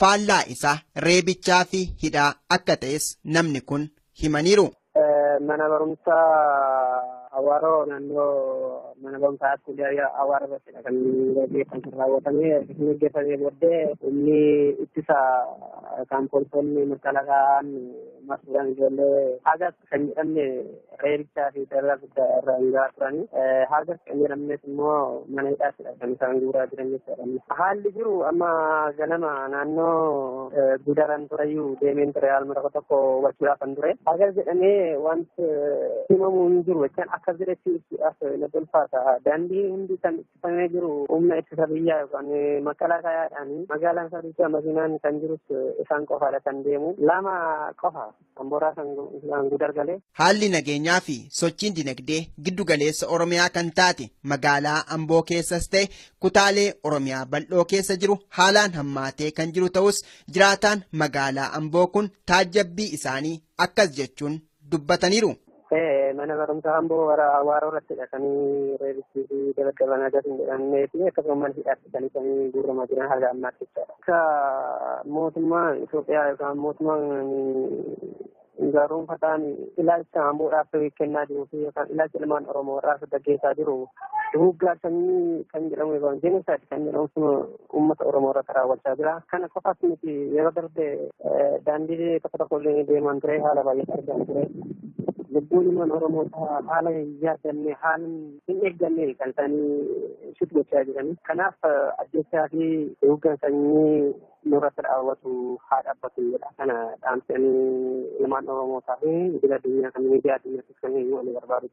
Faallaa isaa reebichaa fi hidhaa akka ta'es namni kun himaniiru. Mana barumsaa Awaaroo naannoo mana barumsaa Askuuliyaa Awaaroo irrattidha kan gaggeeffamu kan raawwatame. Kan gaggeeffamee booddee humni ittisa kan poolisoonni makalaakaan marsuudhaan ijoollee hagas kan jedhamne reebichaa fi dararaa guddaa irra hangaa turani. Hagas kan jedhamnes immoo mana hidhaatidha kan isaan guuraa jiran jechuudha. Haalli jiru amma ganama naannoo gudaran tureyyuu deemeen ture haaluma tokko tokko hubachuudhaaf kan ture. Hagas jedhamee wanti himamu hin jiru jechaan akka jiretti ibsuudhaaf na tolfaata. Daandii hundi kan ittifamee jiru humna ittisa biyyaa yookaan makalaa kaayaadhaan magaalaan sadicha makiinaan kan jirus isaan qofaadha kan deemu. Lama qofa Amboraa kan Gudar galee. Haalli nageenyaa fi sochiin dinagdee giddu galeessa Oromiyaa kan taate magaalaa Amboo keessas ta'e kutaalee Oromiyaa bal'oo keessa jiru haalaan hammaatee kan jiru ta'us jiraataan magaalaa Amboo kun taajjabbii isaanii akkas jechuun dubbataniiru. Mana barumsaa amboo warra awaaroo irratti hidhatanii reebichii fi dabaddaban adas hin jedhamnee fi akkasuma mana hidhaatti kan isanii guurramaa jiran haga ammaatti jechaadha. Akka mootummaa Itoophiyaa yookaan mootummaan gaarumfataan ilaalcha amboodhaaf kennaa jiruu fi yookaan ilaalcha ilmaan Oromoo irraa gaggeessaa jiru duguuggaa sanyii kan jedhamu yookaan jenosaayid kan jedhamu uummata Oromoo irratti raawwachaa jira. Kana qofaas miti yeroo darbe daandii tokko tokko illee deemaan ture haala baay'ee argamu ture. Lubbuun ilmaan Oromoota haala hin yaadamne haala hin eeggamne kan isaanii shut gochaa jiran. Kanaaf ajjechaa fi duguuggaa sanyii nurratti raawwatu haa dhaabbatu jedha. Kana dhaamsanii ilmaan Oromootaa fi idil addunyaa kan miidiyaa addunyaattis kan himu ani barbaadu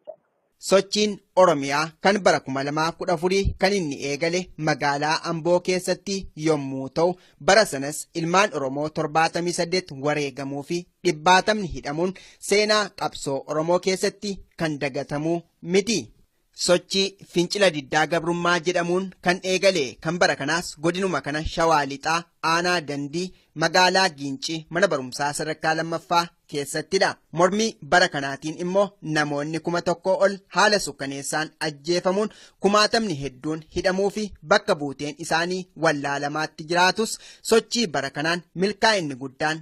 Sochiin Oromiyaa kan bara 2014 kan inni eegale magaalaa Amboo keessatti yommuu ta'u bara sanas ilmaan Oromoo 78 wareegamuu fi dhibbaatamni hidhamuun seenaa qabsoo Oromoo keessatti kan dagatamu miti. Sochii fincila diddaa gabrummaa jedhamuun kan eegale kan bara kanaas godinuma kana shawaa lixaa aanaa dandii magaalaa Giincii mana barumsaa sadarkaa lammaffaa keessattidha. Mormii bara kanaatiin immoo namoonni kuma tokkoo ol haala sukkaneessaan ajjeefamuun kumaatamni hedduun hidhamuu fi bakka buuteen isaanii wallaalamaatti jiraatus sochii bara kanaan milkaa'inni guddaan